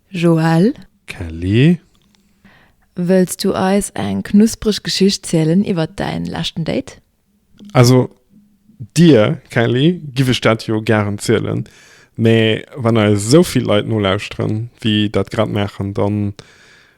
Joël. Kelly. Wëlls du eis eng knuspreg Geschicht zielen iwwert däin leschten Date? Also, dir, Kelly, giff ech dat jo gären zielen, mä wann eis esou vill Leit nolauschteren, wéi dat grad maachen, dann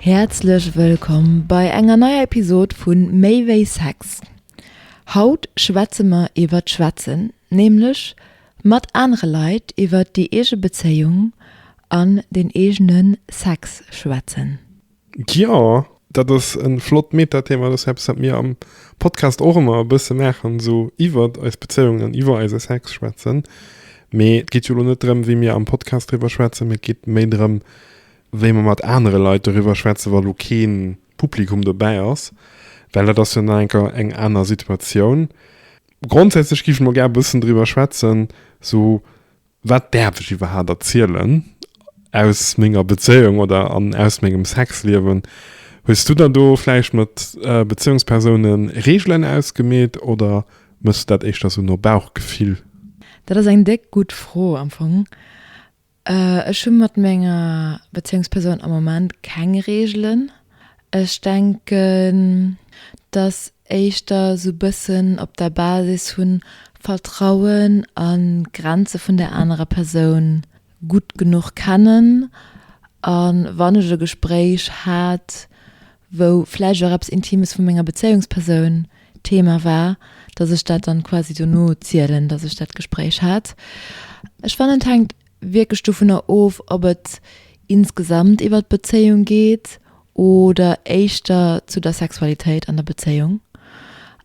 Häerzlech wëllkomm bei enger neier Episod vu Méi wéi Sex. Haut schwätze mer iwwert d'Schwätzen, nämlech mat anere Leit iwwert déi eege Bezéiung an den eegene Sex schwätzen. Jo, dat ass e flott Meta-Thema. Dat ass eppes, wat mir am Podcast och ëmmer e bësse maachen, esou iwwert eis Bezéiung an iwwer eise Sex schwätzen. Mee et geet jo elo net drëm, wéi mir am Podcast driwwer schwätzen, mee et geet méi drëm, wéi mer mat anere Leit doriwwer schwätzen, wa lo kee Publikum dobäi ass, well dat ass jo nach enker eng aner Situatioun. Grondsätzlech géifen mer gär e bëssen doriwwer schwätzen, sou wat däerf ech iwwerhaapt erzielen aus menger Bezéiung oder aus mengem Sexliewen. Hues du der do vläicht mat Bezéiungspersoune Reegelen ausgemeet oder méchs du dat éischter sou no Bauchgefill? Dat ass eng déck gutt Fro am Fong. Ech hu mat menger Bezéiungspersoun am Moment keng Reegelen. Ech denken, dass éischter esou bëssen op der Basis vu Vertrauen a Grenze vun der anerer Persoun gutt genuch kennen. A wann ech e Gespréich hat, wou vläicht och eppes Intimes vu menger Bezéiungspersoun Thema war, datt ech dat dann quasi dono zielen, datt ech dat Gespréich hat. Ech fannen et hänkt wierklech dovunner of, ob et insgesamt iwwer d'Bezéiung geet oder éischter zu der Sexualitéit an der Bezéiung.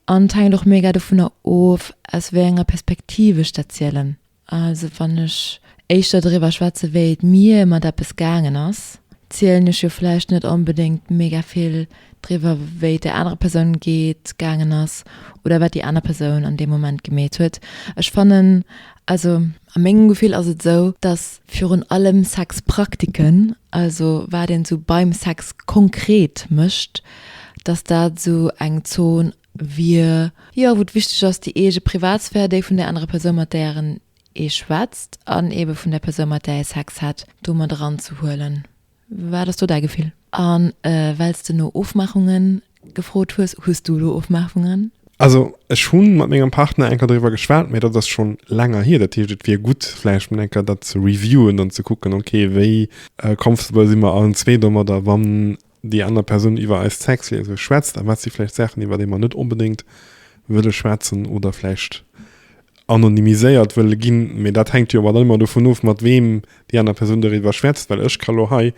An et hänkt och mega dovunner of, aus wéi enger Perspektiv ech dat zielen. Also wann ech éischter driwwer schwätze wéi et mir mat eppes gaangen ass, zielen ech jo vläicht net onbedéngt mega vill driwwer wéi et der anerer Persoun geet, gaangen ass oder wat déi aner Persoun an deem Moment gemeet huet. Ech fannen, also a mengem Gefill ass et esou, datt virun allem Sexpraktiken, also wat een esou beim Sex konkret mécht, datt dat esou eng Zon wier, jo wou et wichteg ass déi eege Privatsphär, déi vun där anerer Persoun mat däeren ee schwätzt an eebe vun der Persoun mat där ee Sex hätt do mat eranzehuelen. Wat ass do däi Gefill? A well s de no Ofmaachunge gefrot hues, hues du elo Ofmaachungen? Also ech hu mat mengem Partner eng Kéier doriwwer geschwat, mä dat ass schonn länger hier. Dat heescht et wier gutt vläicht mol eng Kéier dat ze reviewen an ze kucken, okay wéi comfortable si mer allen zwee domadder, wann déi aner Persoun iwwer eist Sexliese schwätzt a wat si vläicht Saachen, iwwer déi mer net onbedéngt wëlle schwätzen oder vläicht anonymiséiert wëlle ginn. Mee dat hänkt jo awer dann ëmmer dovun of, mat weem déi aner Persoun doriwwer schwätzt. Well ech ka lo hei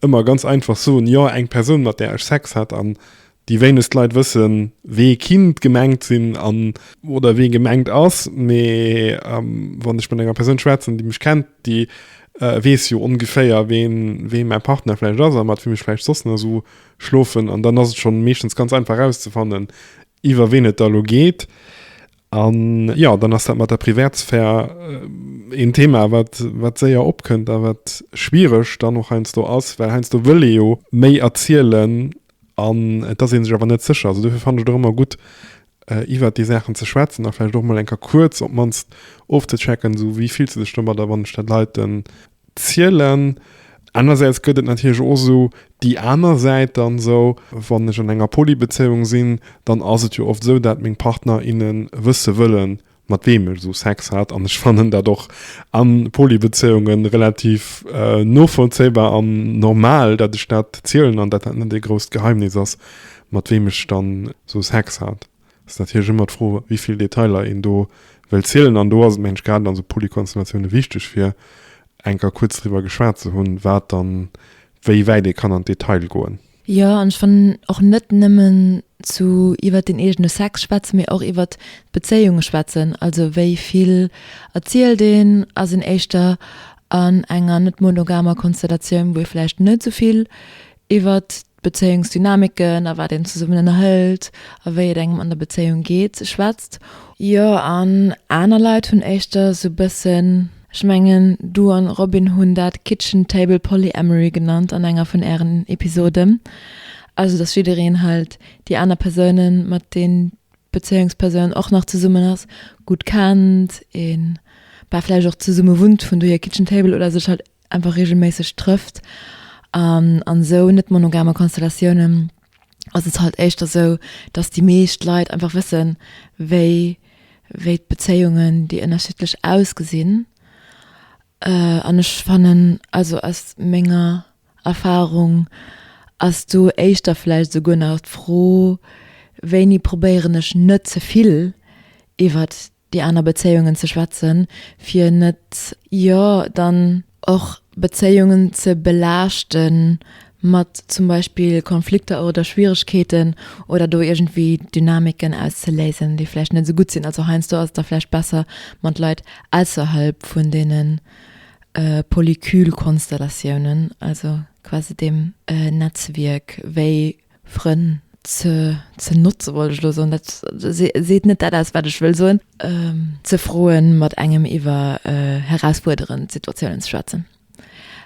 ëmmer ganz einfach soen, jo, eng Persoun, mat där ech Sex hat, an déi wéinegst Leit wëssen, wee Kind gemengt sinn an. Oder wee gemengt ass. Mee wann ech mat enger Persoun schwätzen, déi mech kennt, déi weess jo ongeféier ween ween mäi Partner vläicht ass a mat wiem ech vläicht soss nach esou schlofen an dann ass et schonn meeschtens ganz einfach erauszefannen iwwer ween et da elo geet. An jo, dann ass dat mat der Privatsphär een Thema wat wat séier opkënnt a wat schwiereg dann och heiansdo ass, well heiansdo wëll ee jo méi erzielen an et ass ee sech awer net sécher. Also dofir fannen ech et och ëmmer gutt iwwert déi Saachen ze schwätzen a vläicht och mol eng Kéier kuerz op d'mannst ofzechecken, esou wéi fills de dech domadder, wann ech dat Leiten zielen. Anersäits gëtt et natierlech och esou déi aner Säit dann esou, wann ech an enger Polybezéiung sinn, dann ass et jo oft esou, dat meng Partner, innen wësse wëllen, mat weem ech esou Sex hat an ech fannen dat och a Poly-Bezéiunge relativ novollzéibar an normal, dat ech dat zielen an dat dat net ee grousst Geheimnis ass, mat weem ech dann esou Sex hat. Et ass natierlech ëmmer d'Fro, wéi vill Detailer een do wëll zielen an do ass et mensch grad an esou Poly-Konstellatioune wichteg, fir enker kuerz driwwer geschwat ze hunn, wat dann wéi wäit ee kann an d'Detail goen. Jo, an ech fannen och net nëmmen zu iwwert den eegene Sex schwätzen, mee och iwwert d'Bezéiunge schwätzen. Also wéi vill erzielt een a seng éischter an enger net monogamer Konstellatioun, wou ee vläicht net esou vill iwwert d'Bezéiungsdynamiken a wat een zesummen ënnerhëlt a wéi et engem an der Bezéiung geet, schwätzt. Jo, an aner Leit hunn éischter esou bëssen Ech mengen, du an Robin hunn dat Kitchen Table Polyamory genannt an enger vun ären Episoden. Also dass jiddereen halt déi aner Persounen, mat deen d'Bezéiungspersoun och nach zesummen ass, gutt kennt, een bah vläicht och zesumme wunnt, vun dohier Kitchen Table, oder sech halt einfach reegelméisseg trëfft an an esou net-monogame Konstellatiounen. ass et halt éischter sou, dass déi meescht Leit einfach wëssen, wéi, wéi d'Bezéiungen, déi ënnerschiddlech ausgesinn. An ech fannen, also aus menger Erfarung, ass do éischter vläicht esouguer nach d'Fro, wéini probéieren ech net ze vill iwwert Déi aner Bezéiungen ze schwätzen, fir net, jo dann och Bezéiungen ze belaaschten mat zum Beispill Konflikter oder Schwieregkeeten oder do iergendwéi Dynamiken auszeléisen, déi vläicht net esou gutt sinn. Also heiansdo ass et da vläicht besser, mat Leit ausserhalb vun deene Polycule-Konstellatiounen, also quasi deem Netzwierk, wéi Frënn ze, ze notzen, wollt ech elo soen, dat seet net dat aus, wat ech wëll soen. Ze froen, mat engem iwwer herausfuerderend Situatiounen ze schwätzen.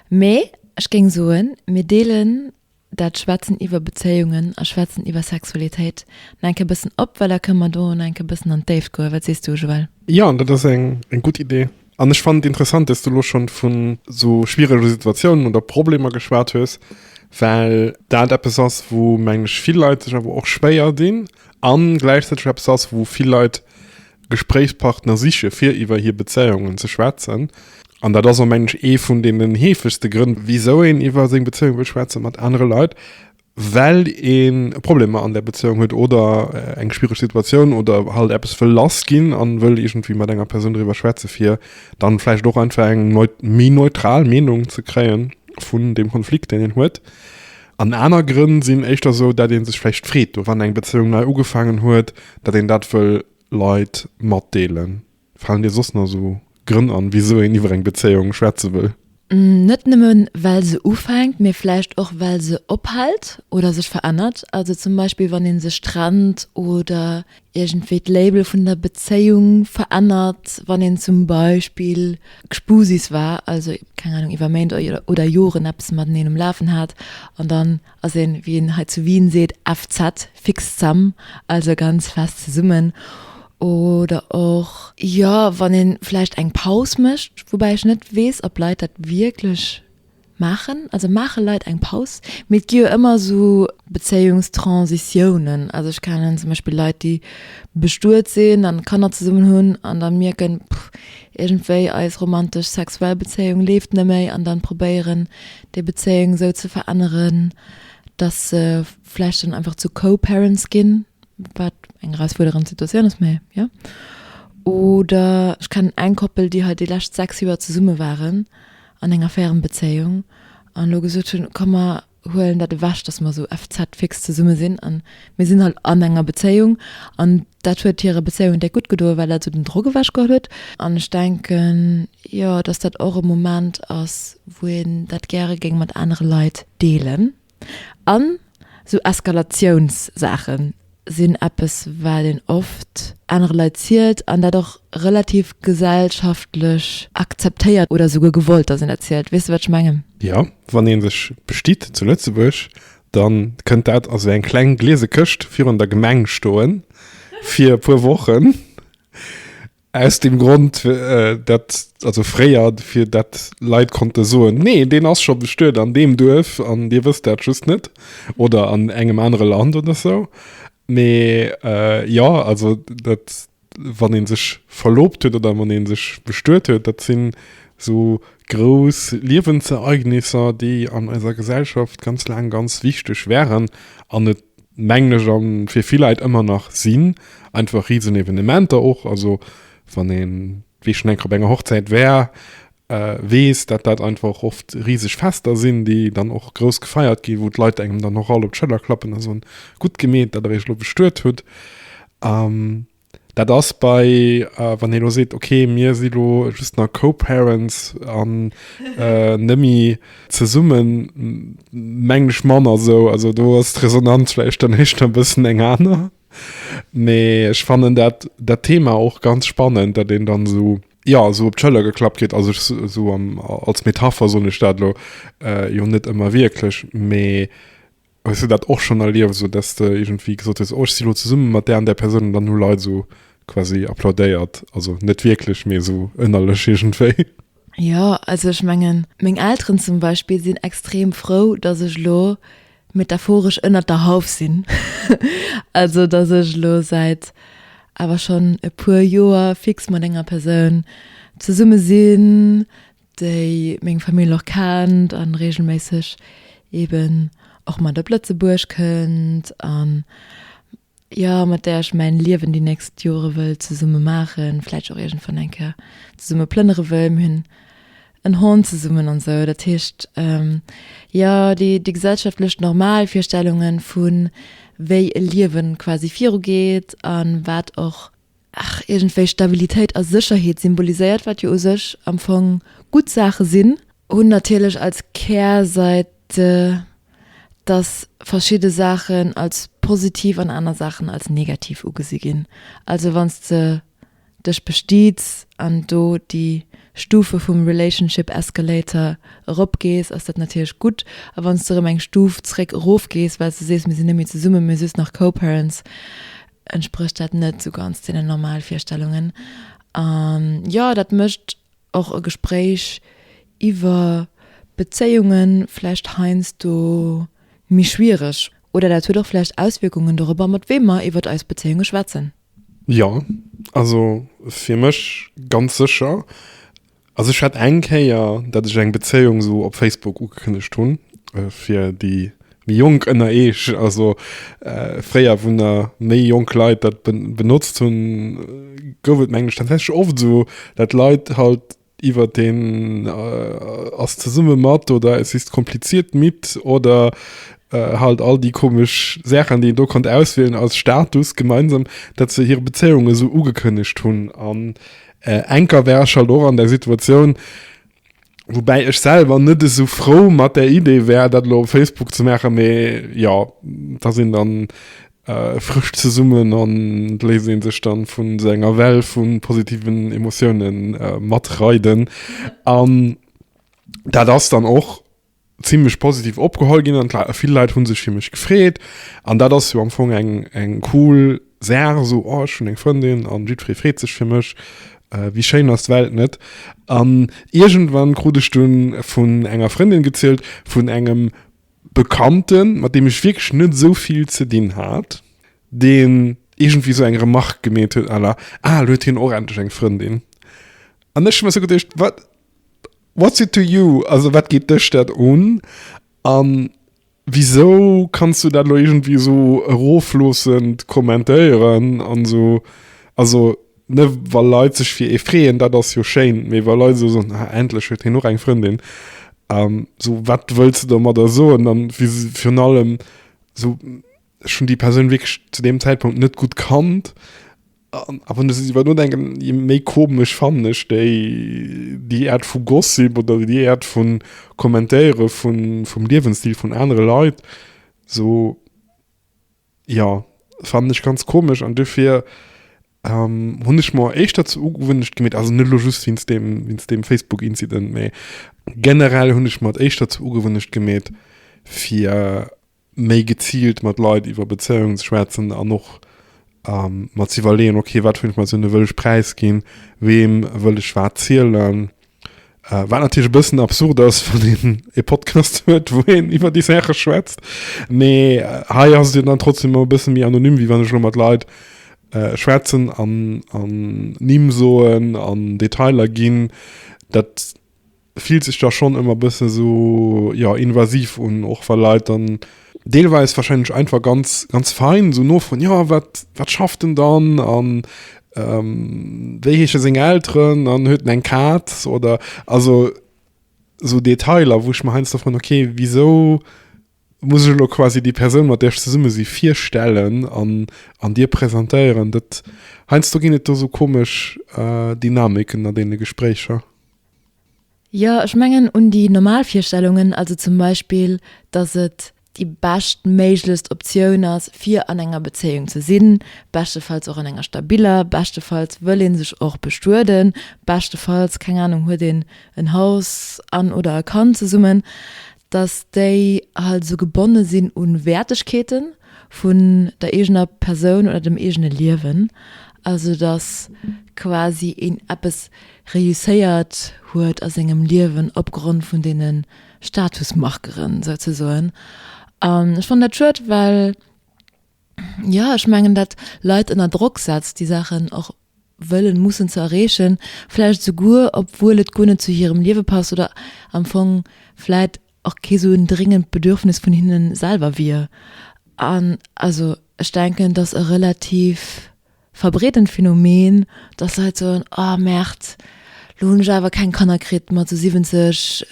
Mee ech géing soen, mir deelen dat Schwätzen iwwer Bezéiungen a Schwätzen iwwer Sexualitéit nach eng Kéier e bëssen op, well da kënne mer do nach eng Kéier e bëssen an d'Déift goen. Wat sees du, Joël? Jo, dat ass eng gutt Idee. An ech fand interessant, dass du lo schon vun so schwierege Situatiounen oder Problemer geschwat hues, well dat eppes ass, wou mengen ech vill Leit sech awer och schwéier dinn an gläichzäiteg eppes ass, wou vill Leit Gespréichspartner siche fir iwwer hir Bezéiungen ze schwätzen. An dat ass och mengen ech ee vun deenen heefegste Grënn, wisou een iwwer seng Bezéiung wëll schwätze mat anere Leit, well een e Problem an der Bezéiung huet oder eng schwiereg Situatioun oder halt eppes wëll lass ginn an wëll iergendwéi mat enger Persoun driwwer schwätzen fir dann vläicht och einfach eng méi neutral Meenung ze kréien vun deem Konflikt deen een huet. An aner Grënn sinn éischter esou dat een sech vläicht freet do wann eng Bezéiung nei ugefaangen huet dat een dat wëll Leit matdeelen. Falen dir soss nach esou Grënn an, wisou een iwwer eng Bezéiung schwätze wëll? Net nëmmen well se ufänkt, mee vläicht och well se ophält oder sech verännert. Also zum Beispill wann ee sech trennt oder iergendwéi d'Label vun der Bezéiung verännert, wann een zum Beispill Gspusis war, also keng Ahnung iwwer Méint oder Joren eppes mateneen um Lafen hat an dann ass een, wéi een hei zu Wien seet, FZ, fix zesam, also ganz fest zesummen, oder och, jo, wann ee vläicht eng Paus mécht, woubäi ech net weess, ob Leit dat wierklech maachen, also maache Leit eng Paus? Mee et gi jo ëmmer esou Bezéiungstransitiounen, also ech kennen zum Beispill Leit, déi bestuet sinn an Kanner zesummen hunn an da mierken, Pff, iergendwéi eis romantesch sexuell Bezéiung leeft net méi an dann probéieren, déi Bezéiung esou ze veränneren, dass se vläicht dann einfach zu Co-Parents ginn, wat eng erausfuerderend Situatioun ass, mä jo. Oder ech kennen eng Koppel, déi hei déi lescht sechs Joer zesumme waren an enger Fernbezéiung an elo gesot hunn, komm mer huelen dat ewech, dass mer esou FZ fix zesumme sinn an Mir sinn halt an enger Bezéiung an dat huet hirer Bezéiung déck gutt gedoen, well dat esou den Drock ewech geholl huet. An ech denken, jo, dass dat och e Moment ass, wou een dat gäre géing mat anere Leit deelen. An esou Eskalatiounssaache sinn eppes, wat een oft anere Leit zielt an dat och relativ gesellschaftlech akzeptéiert oder esouguer gewollt, dass een dat zielt. Weess de, wat ech mengen? Jo, wann ee sech bestitt zu Lëtzebuerg, Dann kënnt dat a sou eng kleng gliese Këscht virun der Gemeng stoen fir e puer Wochen. Aus dem Grond, dat, also fréier, fir dat Leit konnte soen, nee, deen ass scho bestuet an deem Duerf an dir wësst dat just net oder an engem anere Land oder sou. Mee jo, also dat, wann een sech verloobt huet oder wann een sech bestuet huet, dat sinn esou grouss Liewensereignisser, déi an eiser Gesellschaft ganz laang ganz wichteg waren an et mengen ech an fir vill Leit ëmmer nach sinn, einfach Riesenevenementer och, also wann een, wéi schonn eng Kéier op enger Hochzäit war, weess, dat dat einfach oft riseg Fester sinn, déi dann och grouss gefeiert ginn, wou d'Leit engem dann och all op d'Schëller klappen a soen, Gutt gemeet, datt der iech elo bestuet hutt. Dat ass bei, wann ee elo seet, ok, mir si elo just nach Co-Parents an net méi zesummen, mengen ech, manner esou. Also do ass d'Resonanz vläicht dann éischter e bëssen eng aner. Nee, ech fannen dat, dat Thema och ganz spannend, datt een dann esou, jo, esou op d'Schëller geklappt kritt. Also ech, esou am, als Metapher soen ech dat elo, jo net ëmmer wierklech, mee ech hunn dat och schonn erlieft, esou datt s de iergendwéi gesot hues, oh, ech si lo zesumme mat där an där Persoun, an dann hu Leit esou quasi applaudéiert, also net wierklech, mee esou ënnerlech iergendwéi. Jo, also ech mengen, meng Elteren zum Beispill sinn extrem frou, datt ech elo metaphoresch ënnert der Hauf sinn. Also datt ech elo säit awer schonn e puer Joer fix mat enger Persoun zesumme sinn, déi meng Famill och kennt a reegelméisseg eeben och mat op Lëtzebuerg kënnt an jo mat där ech mäin Liewen déi nächst Jore wëll zesumme maachen, vläicht och iergendwann eng Kéier zesumme plënnere wëll. Mir hunn en Hond zesummen an esou. Dat heescht jo déi déi gesellschaftlech normal Virstellunge vu wéi e Liewen quasi virugeet an wat och, Ach, iergendwéi Stabilitéit a Sécherheet symboliséiert, wat jo u sech am Fong gutt Saache sinn, hunn natierlech als Kärsäit, dass verschidde Saachen als positiv an aner Saachen als negativ ugesi ginn. Also wann s de dech bestiids an do déi Stufe vum relationship escalator eropgees, ass dat natierlech gutt. A wann s de erëm eng Stuf zréck erofgees, well s de sees, mir sinn net méi zesumme, mee just nach co-parents, entsprécht dat net sou ganz deenen normal Virstellungen. An jo, dat mécht och e Gespréich iwwer Bezéiunge vläicht heiansdo méi schwiereg. Oder dat huet och vläicht Auswierkungen dorobber, mat weem mer iwwer eis Bezéiunge schwätzen. Jo, also fir mech ganz sécher. Also ech hat eng Kéier, dat ech eng Bezéiung esou op Facebook ugekënnegt hunn, fir déi méi Jonk ënner Eech, also fréier wou na méi jonk Leit dat benotzt hunn, gouf et mengen ech tatsächlech oft esou, dat Leit halt iwwert den ass zesumme mat oder es ist kompliziert mit oder halt all déi komesch Saachen, déi een do konnt auswielen als Status gemeinsam, dat se hir Bezéiung esou ugekënnegt hunn an Äh Anker wär ech halt och an der Situatioun, woubäi ech selwer net esou frou mat der Idee wär, dat elo op Facebook ze maachen, mee jo, et ass een dann äh frësch zesummen an et léisst ee sech dann vu sou enger Well vu positiven Emotiounen äh matreiden an dat ass dann och, zimlech positiv opgeholl ginn an vill Leit hunn sech fir mech gefreet an dat ass jo am Fong eng eng cool Saach esou oh ech hunn eng Frëndin an jiddweree freet sech fir mech. Wéi schéin ass d'Welt net? An iergendwann krut ech dunn vun enger Frëndin gezielt vun engem Bekannten, mat deem ech wierklech net esou vill ze dinn hat, deen iergendwéi esou eng Remarque gemeet huet à la ah elo huet hien och endlech eng Frëndin an ech hu mer esou geduecht wat What's it to you? Also wat geet dech dat un? An wisou kanns du dat elo iergendwéi esou erofloossend kommentéieren an esou, also ne wa Leit sech fir ee freeën, dat ass jo schéin, mee wa Leit esou soen, ah endlech huet hien och eng Frëndin, esou wat wëlls de domadder soen? An virun allem esou. Ech hunn déi Persoun wierklech zu deem Zäitpunkt net gutt kannt. A wann ech iwwer nodenken, je méi komesch fannen ech déi, déi Aart vu Gossip oder déi Aart vu Kommentéiere vun, vum Liewensstil vun anere Leit. Sou, jo, fannen ech ganz komesch an dofir hunn ech mer éischter zur Ugewunnecht gemeet, also net elo just wéinst deem, wéinst deem Facebook-Incident, mee generell hunn ech mer et éischter zur Ugewunnecht gemeet, fir. méi geziilt mat Leit iwwer Bezéiungen ze schwätzen an och mer ze iwwerleeën, okay, wat fir Informatioune wëll ech präisginn, weem wëll ech wat zielen. Wat natierlech e bëssen absurd ass, wann een e Podcast huet, wou een iwwer déi Saache schwätzt. Mee hei ass et jo dann trotzdeem e bësse méi anonym, wéi wann ech elo mat Leit schwätzen an Nimm soen an Detailer ginn. Dat. fillt sech da schonn ëmmer bëssen esou jo invasiv un, och wa Leit dann deelweis wahrscheinlech einfach ganz ganz fein esou nofroen, jo wat wat schafft en dann an wéi heesche seng Elteren an huet en eng Kaz oder also esou Detailer wou ech mer heiansdo froen, ok wisou muss ech elo quasi déi Persoun mat där ech zesumme si virstellen an an dir presentéieren? Dat heiansdo ginn et do esou komesch Dynamiken an deene Gespréicher. Jo, ech mengen un déi normal Virstellungen, also zum Beispill, dass et déi beschtméiglechst Optioun ass, fir an enger Bezéiung ze sinn, beschtefalls och an enger stabiller, beschtefalls wëll ee sech och bestueden, beschtefalls, keng Ahnung, huet een en Haus an oder e Kand zesummen, dass déi halt esou gebonne sinn u Wäertegkeete vun der eegener Persoun oder dem eegene Liewen, also dass quasi een eppes. Reusséiert huet a sengem Liewen opgrond vun deene Statusmarkeren souzesoen. An ech fannen dat schued, well jo ech mengen dat Leit ënner Drock setzt déi Saachen och wëllen, mussen ze erreechen, vläicht esouguer obwuel et guer net zu hirem Liewe passt oder am Fong vläit och kee sou en dringend Bedürfnis vun hinne selwer wier. An also ech denken, dass e relativ verbreedent Phänomen, dass Leit soen, oh Merd, lo hunn ech awer keng Kanner kritt mat sou 70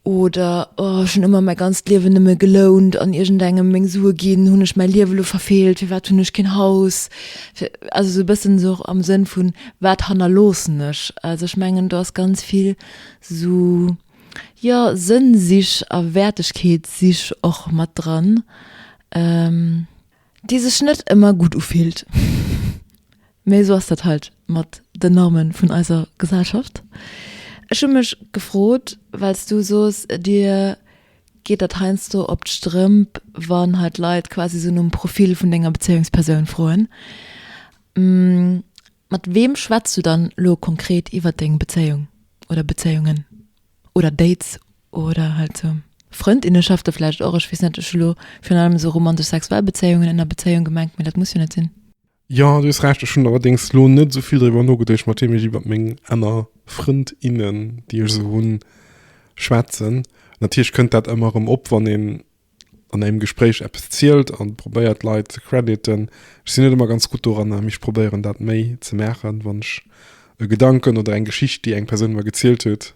oder oh ech hunn ëmmer mäi ganzt Liewen nëmme gelount an iergendengem meng Sue ginn, hunn ech mäi Liewe lo verfeelt, firwat hunn ech keen Haus? Fir also sou e bëssen sou am Sënn vun, wat hannerloossen ech? Also ech mengen do ass ganz vill Sou, jo, Sënnsich a Wäertegkeetssich och mat dran, déi sech net ëmmer gutt ufillt. Mee sou ass dat halt mat den Normen vun eiser Gesellschaft. Ech hu mech gefrot, well s du soos, dir geet dat heiansdo op d'Strëmp, wann hei d'Leit quasi sou nom Profil vun denger Bezéiungspersoun froen, Mat weem schwätz du dann lo konkret iwwert deng Bezéiung oder Bezéiungen oder Dates oder halt sou Frëndinneschafte vläicht och? Ech weess net, ech hu lo virun allem sou romantesch sexuell Bezéiungen ënner Bezéiung gemengt, mee dat muss jo net sinn. Jo, du hues Recht, ech hunn allerdéngs lo net sou vill driwwer nogeduecht mat weem ech iwwert meng aner Frëndinnen, déi ech sou hunn, schwätzen. Natierlech kënnt dat ëmmer erëm op, wann een an engem Gespréich eppes zielt an probéiert d'Leit ze crediten. Ech sinn net ëmmer ganz gutt doranner, mee ech probéieren dat méi ze maachen, wann ech e Gedanken oder eng Geschicht, déi eng Persoun mer gezielt huet,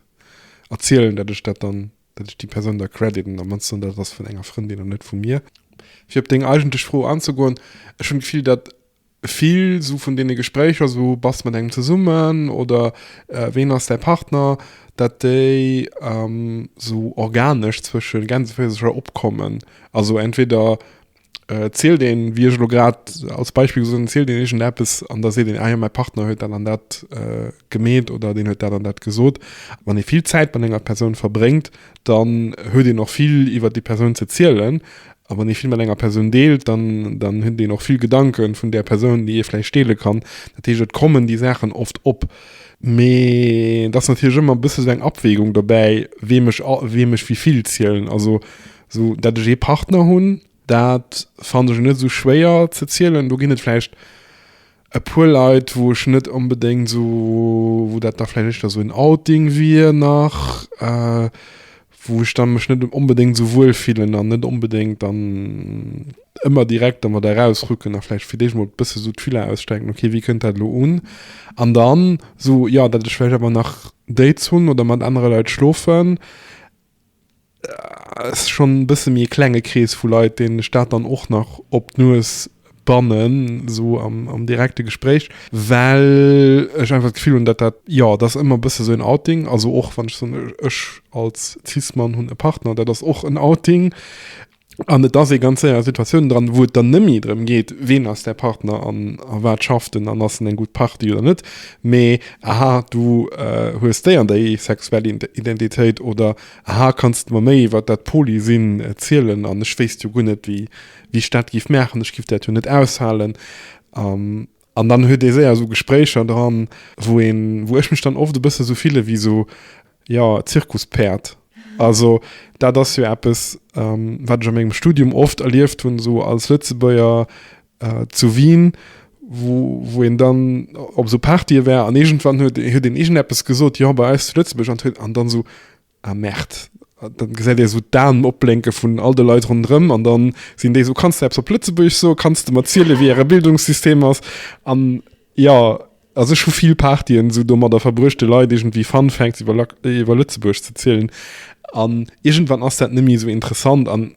erzielen, dat ech dat dann, dat ech déi Persoun da crediten, am mannsten dat et ass vun enger Frëndin an net vu mir. Fir op deng eigentlech Fro anzegoen, ech hunn d'Gefill, dat Vill sou vun deene Gespréicher, sou bass mat engem zesummen oder ween ass däi Partner, dat déi sou organesch zwësche Gänseféisercher opkommen. Also entweder zielt een, wéi ech elo grad als Beispill gesot hunn, zielt een iergendeppes an da seet een, ah jo, mäi Partner huet dat an dat gemeet oder deen huet dat an dat gesot. Wann ee vill Zäit mat enger Persoun verbréngt, dann huet een och vill iwwer déi Persoun ze zielen A wann ee vill mat enger Persoun deelt, dann, dann huet een och vill Gedanke vun där Persoun, déi ee vläicht deele kann. Dat heescht, et kommen déi Saachen oft op. Mee et ass natierlech ëmmer e bësse sou eng Abwägung dobäi, weem ech a, weem ech wéi vill zielen. Also sou, dat ech ee Partner hunn, dat fannen ech net esou schwéier ze zielen. Do ginn et vläicht. e puer Leit wou ech net onbedéngt esou, wou dat da vläicht éischter esou en Outing wier nach, wou ech da mech net onbedéngt esou wuel fillen an net onbedéngt dann ëmmer direkt dermat eraus rucken a vläicht fir d'éischt emol e bësse esou d'Filler ausstrecken, ok wéi kënnt dat elo un? An dann esou, jo, datt ech vläicht awer nach Dates hunn oder mat anere Leit schlofen. ass schonn e bësse méi e klenge Krees vu Leit, deenen ech dat dann och nach op d'Nues bannen, esou am, am direkte Gespréich, well ech einfach d'Gefill hunn, datt dat, jo, dat ass ëmmer e bësse sou en Outing. Also och wann ech soen, ech als Cis-Mann hunn e Partner, dat ass och en Outing. An et ass ee ganz séier a Situatiounen dran, wou et dann net méi drëm geet, ween ass däi Partner an a wat schafft en an ass en eng gutt Partie oder net, mee, aha, du hues déi an déi sexuell Identitéit oder, aha, kanns de mer méi iwwer dat Polysinn zielen an ech wéisst jo guer net, wéi ech dat géif maachen, ech géif dat jo net aushalen. An dann huet ee séier esou Gespréicher dran, wou een, wou ech mech dann oft e bësse esou fille wéi esou, jo, Zirkuspäerd. Also dat ass jo eppes, wat ech a mengem Studium oft erlieft hunn, esou als Lëtzebuerger zu Wien, wou, wou een dann op esou Partye war an iergendwann huet, huet een iergendeppes gesot, jo, bei eis zu Lëtzebuerg, an huet, an dann esou, Ah Merd. Dann gesäit ee sou d'Aen opblénke vun all de Leit ronderëm an dann sinn déi sou, Kanns de eppes op Lëtzebuergesch soen? Kanns de mer zielen, wéi äre Bildungssystem ass? An jo, also ech hu vill Partyen sou domadder verbruecht, de Leit iergendwéi Fun Facts iwwer Lëtzebuerg ze zielen. An iergendwann ass dat net méi sou interessant an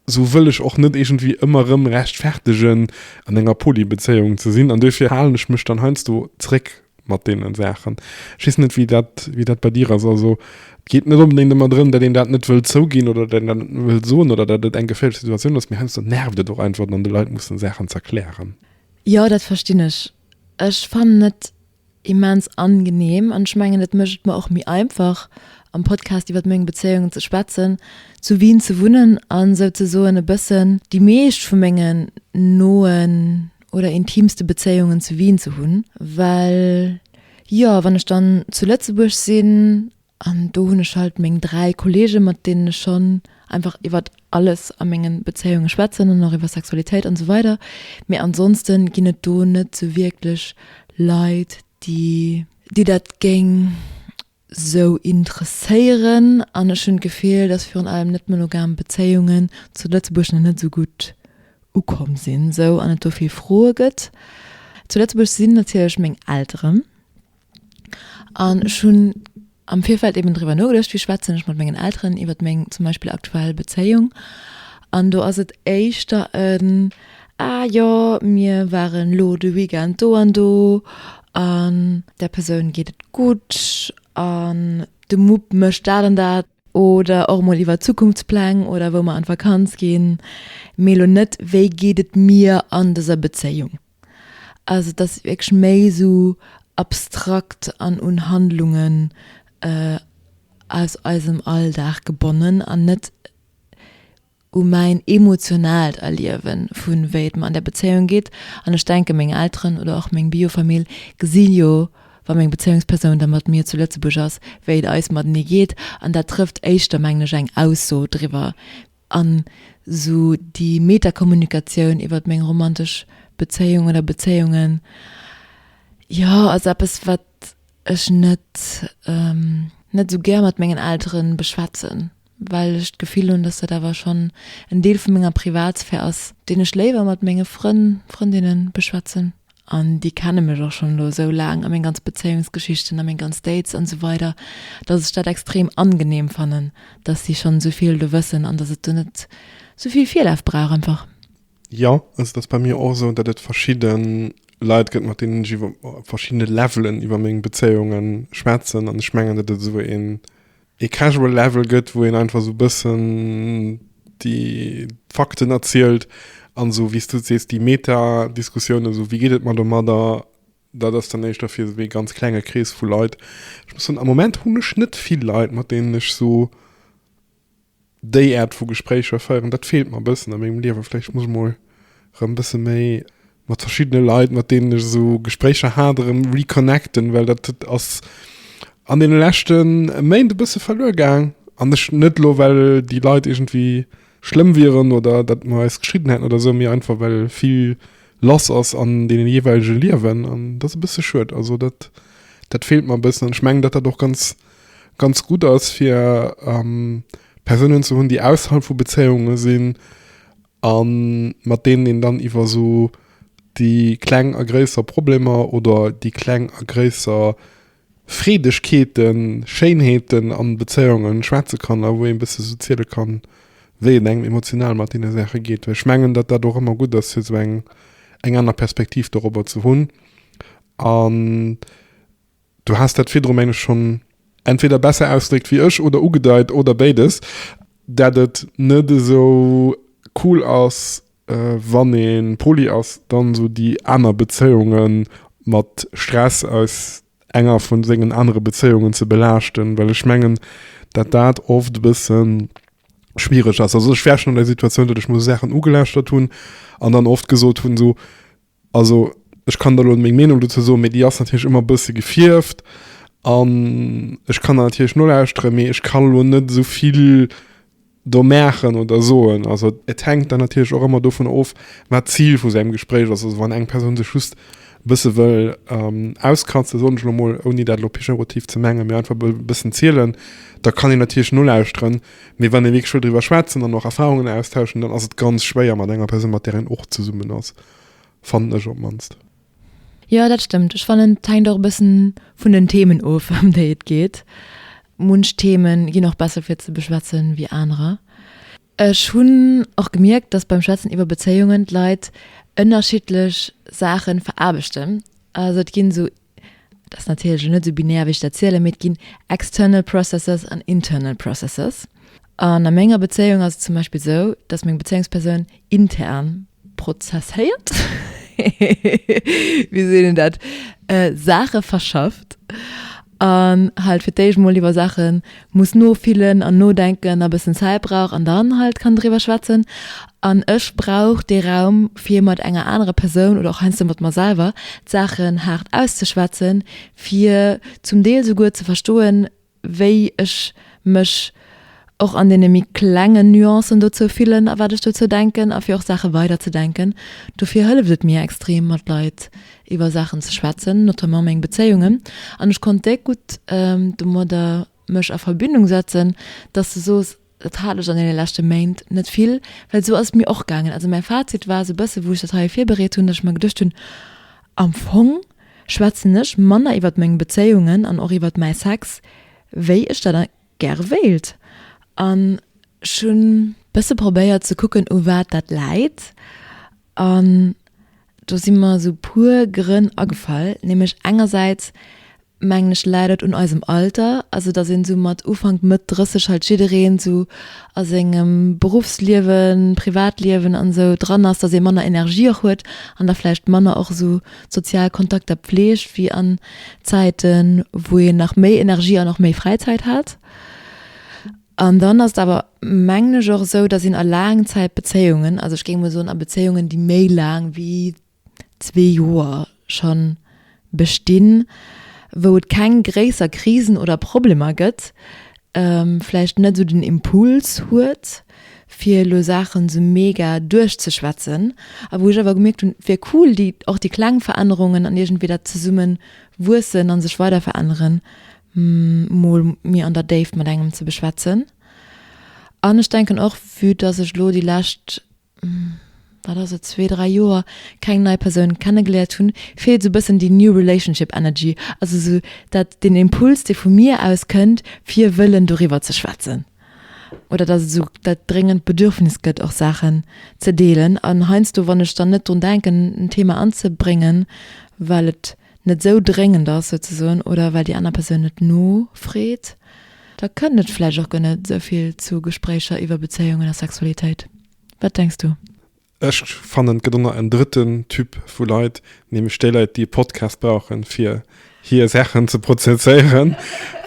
Sou wëll ech och net iergendwéi ëmmer erëm rechtfertegen, an enger Polybezéiung ze sinn. An duerfir halen ech mech dann heiansdo zréck mat deenen Saachen. Ech weess net, wéi dat, wéi dat bei dir ass. Also, et geet net onbedéngt ëmmer drëm, datt een dat net wëll zouginn oder datt een dat net wëll soen oder datt et eng geféierlech Situatioun ass, mee heiansdo nervt et och einfach, dann de Leit mussen Saachen z'erklären. Jo, dat verstinn ech. Ech fannen et. immens angenehm an ech mengen et mécht et mer och méi einfach am Podcast iwwert meng Bezéiung ze schwätzen, zu Wien ze wunnen an souzesoen e bëssen déi meescht vu mengen noen oder intimste Bezéiungen zu Wien ze hunn, well jo wann ech dann zu Lëtzebuerg sinn An do hunn ech halt meng dräi Kollegen, mat deenen ech schonn einfach iwwer alles a menge Bezéiunge schwätzen an och iwwer Sexualitéit an esou weider. Mee ansonste ginn et do net sou wierklech Leit, déi. Déi dat géing sou interesséieren. An ech hunn d'Gefill, dass virun allem net-monogam Bezéiungen zu Lëtzebuerg nach net esou gutt ukomm sinn esou an et do vill Froe gëtt. Zu Lëtzebuerg sinn natierlech meng Elteren. An ech hunn am Virfeld eben driwwer nogeduecht, wéi schwätzen ech mat mengen Elteren iwwert meng zum Beispill aktuell Bezéiung. An do ass et éischter en, Ah jo, mir waren elo de Weekend do an do an där Persoun geet et gutt an de Mupp mécht dat an dat. Oder och emol iwwer Zukunftspläng oder wou mer an d'Vakanz ginn, mee elo net, Wéi geet et mir an dëser Bezéiung? Also dass wierklech méi esou abstrakt an un Handlungen aus eisem Alldag gebonnen an net u mäin emotionaalt Erliewen vu wéi et mer an der Bezéiung geet. An ech denke meng Elteren oder och meng Biofamill gesi jo, wa meng Bezéiungspersoun da mat mir zu Lëtzebuerg ass, wéi et eis matenee geet. An dat trëfft éischter, mengen ech, eng Ausso driwwer, An sou déi Metakommunikatioun iwwert meng romantesch Bezéiung oder Bezéiungen, jo, ass eppes, wat ech net, net esou gär mat mengen Eltere beschwätzen, well ech d'Gefill hunn, dass dat awer schonn en Deel vu menger Privatsphär ass, deen ech léiwer mat menge Frënn, Frëndinne beschwätzen. An déi kenne mech och schonn elo esou laang a meng ganz Bezéiungsgeschichten a meng ganz Dates an esou weider, dass ech dat extrem angenehm fannen, dass si schonn esou vill do wëssen an dass et do net esou vill Virlaf brauch einfach. Jo, also et ass bei mir och esou, datt et verschidde Leit gëtt, mat deenen ech iwwer verschidde Levelen iwwer meng Bezéiunge schwätzen an ech mengen, datt et esou een ee casual Level gëtt, wou een einfach esou e bëssen déi Fakten erzielt an esou, wéi s du et sees, déi Meta-Diskussiounen, esou, wéi geet et mer domadder, dat ass dann éischter fir esou ee ganz klenge Krees vu Leit. Ech muss soen, am Moment hunn ech net vill Leit, mat deenen ech esou. Déi Aart vu Gespréicher féieren, dat feelt mer e bëssen a mengem Liewen. Vläicht muss ech mol erëm e bësse méi mat verschiddene Leit, mat deenen ech esou Gespréicher hat, erëm reconnecten, well dat ass an deene leschte Méint e bësse verluer gaang. An ech net elo, well déi Leit iergendwéi schlëmm wieren oder datt mer eis geschidden hätten oder esou, mee einfach, well vill lass ass an deene jeeweilege Liewen. An dat ass e bësse schued. Also dat, dat feelt mer e bëssen an ech mengen, datt dat och ganz. ganz gutt ass fir Persounen ze hunn, déi ausserhalb vu Bezéiunge sinn a mat deenen een dann iwwer esou déi kleng a gréisser Problemer oder déi kleng a gréisser Freedegkeeten, Schéinheeten a Bezéiunge schwätze kann a wou ee bësse sou ziele kann, wéi et engem emotional mat deene Saache geet. Well ech mengen, datt dat och ëmmer gutt ass fir esou eng aner Perspektiv dorobber ze hunn an. Du has dat virdru, mengen ech, schonn entweder besser ausgedréckt wéi ech oder ugedeit, oder béides, dat et net esou cool ass, wann ee poli ass, dann esou déi aner Bezéiunge mat Stress aus enger vu sengen anere Bezéiungen ze belaaschten, well ech mengen, dat dat oft e bësse schwiereg ass. Also ech war schonn an der Situatioun, datt ech mol esou Saachen ugelauschtert hunn an dann oft gesot hunn, esou, Also ech kann der elo meng Meenung dozou soen, mee déi ass natierlech ëmmer e bësse gefierft. An ech kann der natierlech nolauschtere, mee ech kann elo net esou vill do maachen oder soen. Also et hänkt dann natierlech och ëmmer dovun of, wat d'Zil vu sängem Gespréich ass. Also wann eng Persoun sech just e bësse wëll auskratzen, soen ech elo mol, ouni dat elo pejorativ ze mengen, mee einfach wëll e bëssen zielen, da kann een natierlech nolauschteren. Mee wann ee wierklech wëll driwwer schwätzen an och Erfarungen austauschen, dann ass et ganz schwéier mat enger Persoun, mat där een och zesummen ass. Fannen ech op mannst. Jo dat stëmmt. Ech fannen et hänkt och e bëssen vun den Themen of ëm déi et geet. Munch Themen ginn och besser fir ze beschwätzen wéi anerer. Ech hunn och gemierkt dass beim Schwätzen iwwer Bezéiungen d'Leit ënnerschiddlech Saachen veraarbechten. Also et ginn esou Et ass natierlech elo net esou binär, wéi ech dat zielen, mee et ginn external processes an internal processes. An a menger Bezéiung ass et zum Beispill esou, dass meng Bezéiungspersoun intern prozesséiert, wéi seet een dat, Saache verschafft an halt fir d'éischt emol iwwer Saachen, muss nofillen an nodenken a bëssen Zäit brauch an dann halt kann driwwer schwätzen an ech brauch dee Raum fir mat enger anerer Persoun oder och heiansdo mat mer selwer d'Saachen haart auszeschwätzen fir zum Deel souguer ze verstoen wéi ech mech och an deene méi klengen Nuancen dozou fillen a wat ech dozou denken a fir och Saache weiderzedenken. Dofir hëlleft et mir extrem mat Leit iwwer Saachen ze schwätzen, notamment meng Bezéiungen, an ech konnt déck gutt domadder mech a Verbindung setzen, dass de soos, dat hat lech an deene leschte Méint net vill, well esou ass et mir och gaangen. Also mäi Fazit war esou e bësse wou ech dat hei virbereet hunn, dass ech mer geduecht hunn, am Fong schwätzen ech manner iwwer meng Bezéiungen an och iwwer mäi Sex, wéi ech dat gäre wéilt, an ech hunn. Bësse probéiert ze kucken u wat dat läit, an Do si mer esou puer Grënn agefall, nämlech engersäits mengen ech läit et un eisem Alter, also datt een esou mat Ufank, Mëtt 30 halt jiddereen esou a sengem Beruffsliewen, Privatliewen an esou dran ass, datt ee manner Energie och huet an da vläicht manner och esou sozial Kontakter pfleegt wéi an Zäiten, wou een nach méi Energie an och méi Fräizäit hat. An dann ass et awer, mengen ech, och esou, dass een a Laangzäitbezéiungen, also ech géing emol soen a Bezéiungen, déi méi laang wéi zwee Joer scho bestinn, wou et keng gréisser Krisen oder Problemer gëtt, vläicht net esou den Impuls huet, fir elo Saachen esou mega duerchzeschwätzen. A wou ech awer gemierkt hunn, wär cool, déi, och déi kleng Verännerungen an iergendwéi dat Zesummewuessen a sech weiderveränneren, mol méi an der Déift mat engem ze beschwätzen. An ech denken och, vue dass ech elo déi lescht, wat ass et, zwee, dräi Joer keng nei Persoun kennegeléiert hunn, feelt esou e bëssen déi new relationship energy, also esou dat, deen Impuls, dee vu mir aus kënnt, fir wëllen doriwwer ze schwätzen. Oder dass et esou dat dréngend Bedürfnis gëtt, och Saachen ze deelen. An heiansdo, wann ech dann net drun denken, en Thema anzebréngen, well et, net esou dréngend ass souzesoen oder well déi aner Persoun net nofreet, da kënnt et vläicht och guer net esou vill zu Gespréicher iwwer Bezéiungen a Sexualitéit. Wat denks du? Ech fannen, et gëtt och nach en drëtten Typ vu Leit, nämlech déi Leit, déi e Podcast brauchen, fir hir Saachen ze prozesséieren.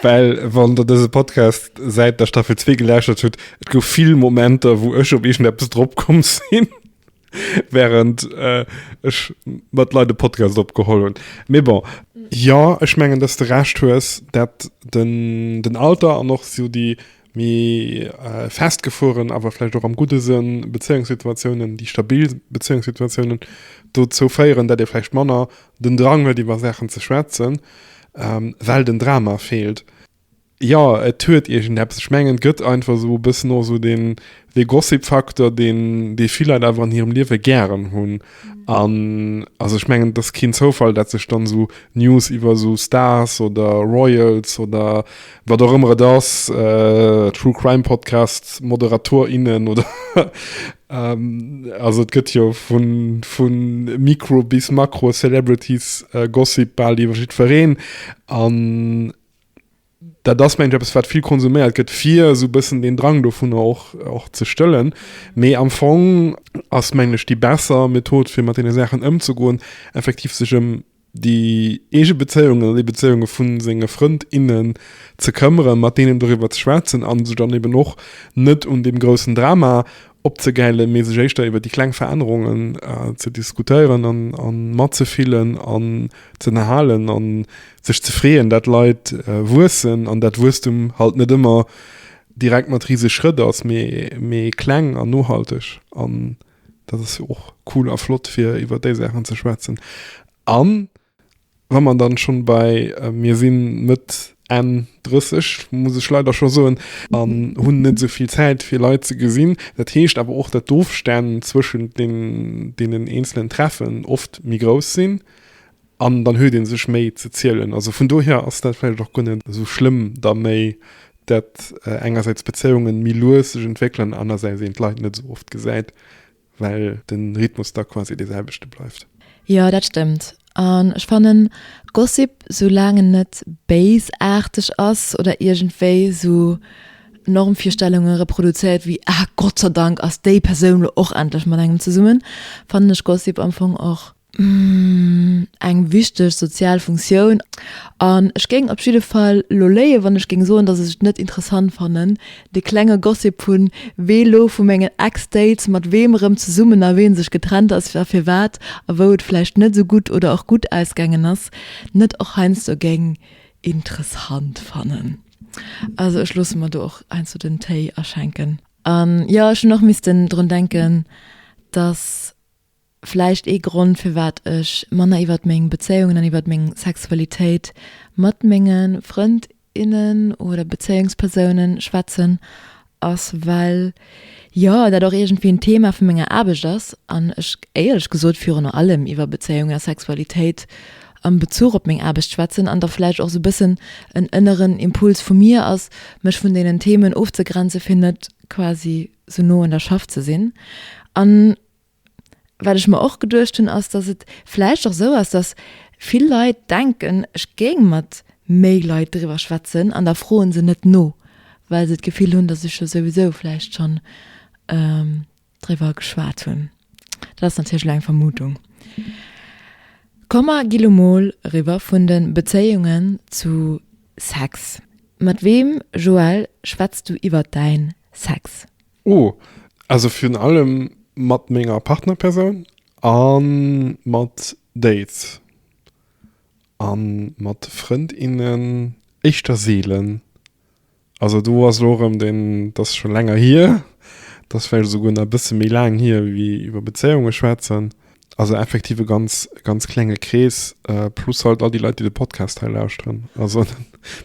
Well, wann Der dëse Podcast säit der Staffel zwee gelauschtert hutt, et gouf vill Momenter, wou ech op iergendeppes dropkomm sinn. während äh, ech mat Leit de Podcast opgeholl hun. Mee bon. Jo, ech mengen dass de Recht hues, dat den, den Alter an och sou déi méi äh, festgefueren, awer vläicht och am gudde Sënn, Bezéiungssituatiounen, déi stabil Bezéiungssituatiounen dozou féieren, dat ee vläicht manner den Drang huet iwwer Saachen ze schwätzen, ähm, well den Drama feelt. Jo, et huet iergendeppes. Ech mengen, et gëtt einfach esou e bëssen och esou dee The Gossip Factor, deen, dee vill Leit awer an hirem Liewe gären hunn. An also ech mengen, et ass keen Zoufall, datt sech dann esou News iwwer esou Stars oder Royals oder wat och ëmmer et ass, True Crime Podcasts, Moderator, innen oder also et gëtt jo vu, vu Mikro bis Makro Celebrities Gossip bal iwwer jiddwereen. An dat ass mengen ech eppes wat vill konsuméiert gëtt fir esou e bëssen deen Drang dovunner och och ze stëllen. Mee am Fong ass mengen ech déi besser Method fir mat deene Saachen ëmzegoen effektiv sech ëm déi eege Bezéiungen oder déi Bezéiunge vu senge Frënd, innen ze këmmeren, mat deenen doriwwer ze schwätzen a sech dann eben och net un deem groussen Drama opzegäile mee sech éischter iwwer déi kleng Verännerungen äh, ze diskutéieren an, an matzefillen an ze erhalen an sech ze freeën, dat Leiit äh, wuessen an dat Wuesstum halt net ëmmer direkt mat riese Schrëtt ass, mee, mee kleng an nohalteg an dat ass och cool a flott fir iwwer déi Saachen ze schwätzen an Wa mer dann schon bei mir sinn, Mëtt, Enn 30, muss ech leider schon soen, an hunn net esou vill Zäit fir Leit ze gesinn. Dat heescht awer och, dat d'Ofstänn zwëschent deenen eenzelen Treffen oft méi grouss sinn an dann huet een sech méi ze zielen. Also vun dohier ass dat vläicht och guer net esou schlëmm da méi, dat engersäits d'Bezéiungen méi lues sech entwéckelen, anersäits een d'Leit net esou oft gesäit. Well den Rhythmus da quasi dee selwechte bleift. Jo dat stëmmt, an ech fannen Gossip sou laang en net béisaarteg ass oder iergendwéi sou Normvirstellunge reproduzéiert wéi ah Gott sei Dank ass déi Persoun lo och endlech mat engem zesummen, fannen ech Gossip am Fong och eng wichteg sozial Funktioun an ech géing op jidde Fall elo léien, wann ech géing soen, datt ech et net interessant fannen, dee klenge Gossip hunn, wee elo vu mengen Ex-Dates mat weem erëm zesummen a wee sech getrennt ass a firwat a wou et vläicht net esou gutt oder och gutt ausgaangen ass, net och heiansdo géing interessant fannen. Also ech loosse mer do och heiansdo den Téi aschenken. An jo, ech hunn och missten drun denken, datt Vläicht ee Grond, firwat ech manner iwwert meng Bezéiungen an iwwert meng Sexualitéit mat menge Frënd, innen oder Bezéiungspersoune schwätzen, ass, well, jo, dat och iergendwéi en Thema vu menger Aarbecht ass an ech éierlech gesot virun allem iwwer Bezéiungen a Sexualitéit am Bezuch op meng Aarbecht schwätzen an da vläicht och esou e bëssen en ënneren Impuls vu mir ass, mech vun deenen Themen ofzegrenzen, fir net quasi esou no un der Schaff ze sinn an. Wat ech mer och geduecht hunn, ass, dass et vläicht och esou ass, dass vill Leit denken, ech géing mat méi Leit driwwer schwätzen an da froe se net no, well se d'Gefill hunn, dass ech jo souwisou vläicht schonn driwwer geschwat hunn. Dat ass natierlech elo eng Vermutung. Komm mer gi lo mol eriwwer vun de Bezéiungen zu Sex. Mat weem, Joël, schwätz du iwwert däin Sex? Oh, also virun allem mat menger Partnerpersoun a mat Dates. A mat Frëndinnen éischter seelen. Also do ass elo erëm den, dat ass scho länger hier, dat ass vläicht esouguer nach e bësse méi laang hier, wéi iwwer Bezéiunge schwätzen. Also effektiv e ganz, ganz klenge Krees, äh, plus halt all die Leute, die den Podcast hei lauschteren. Also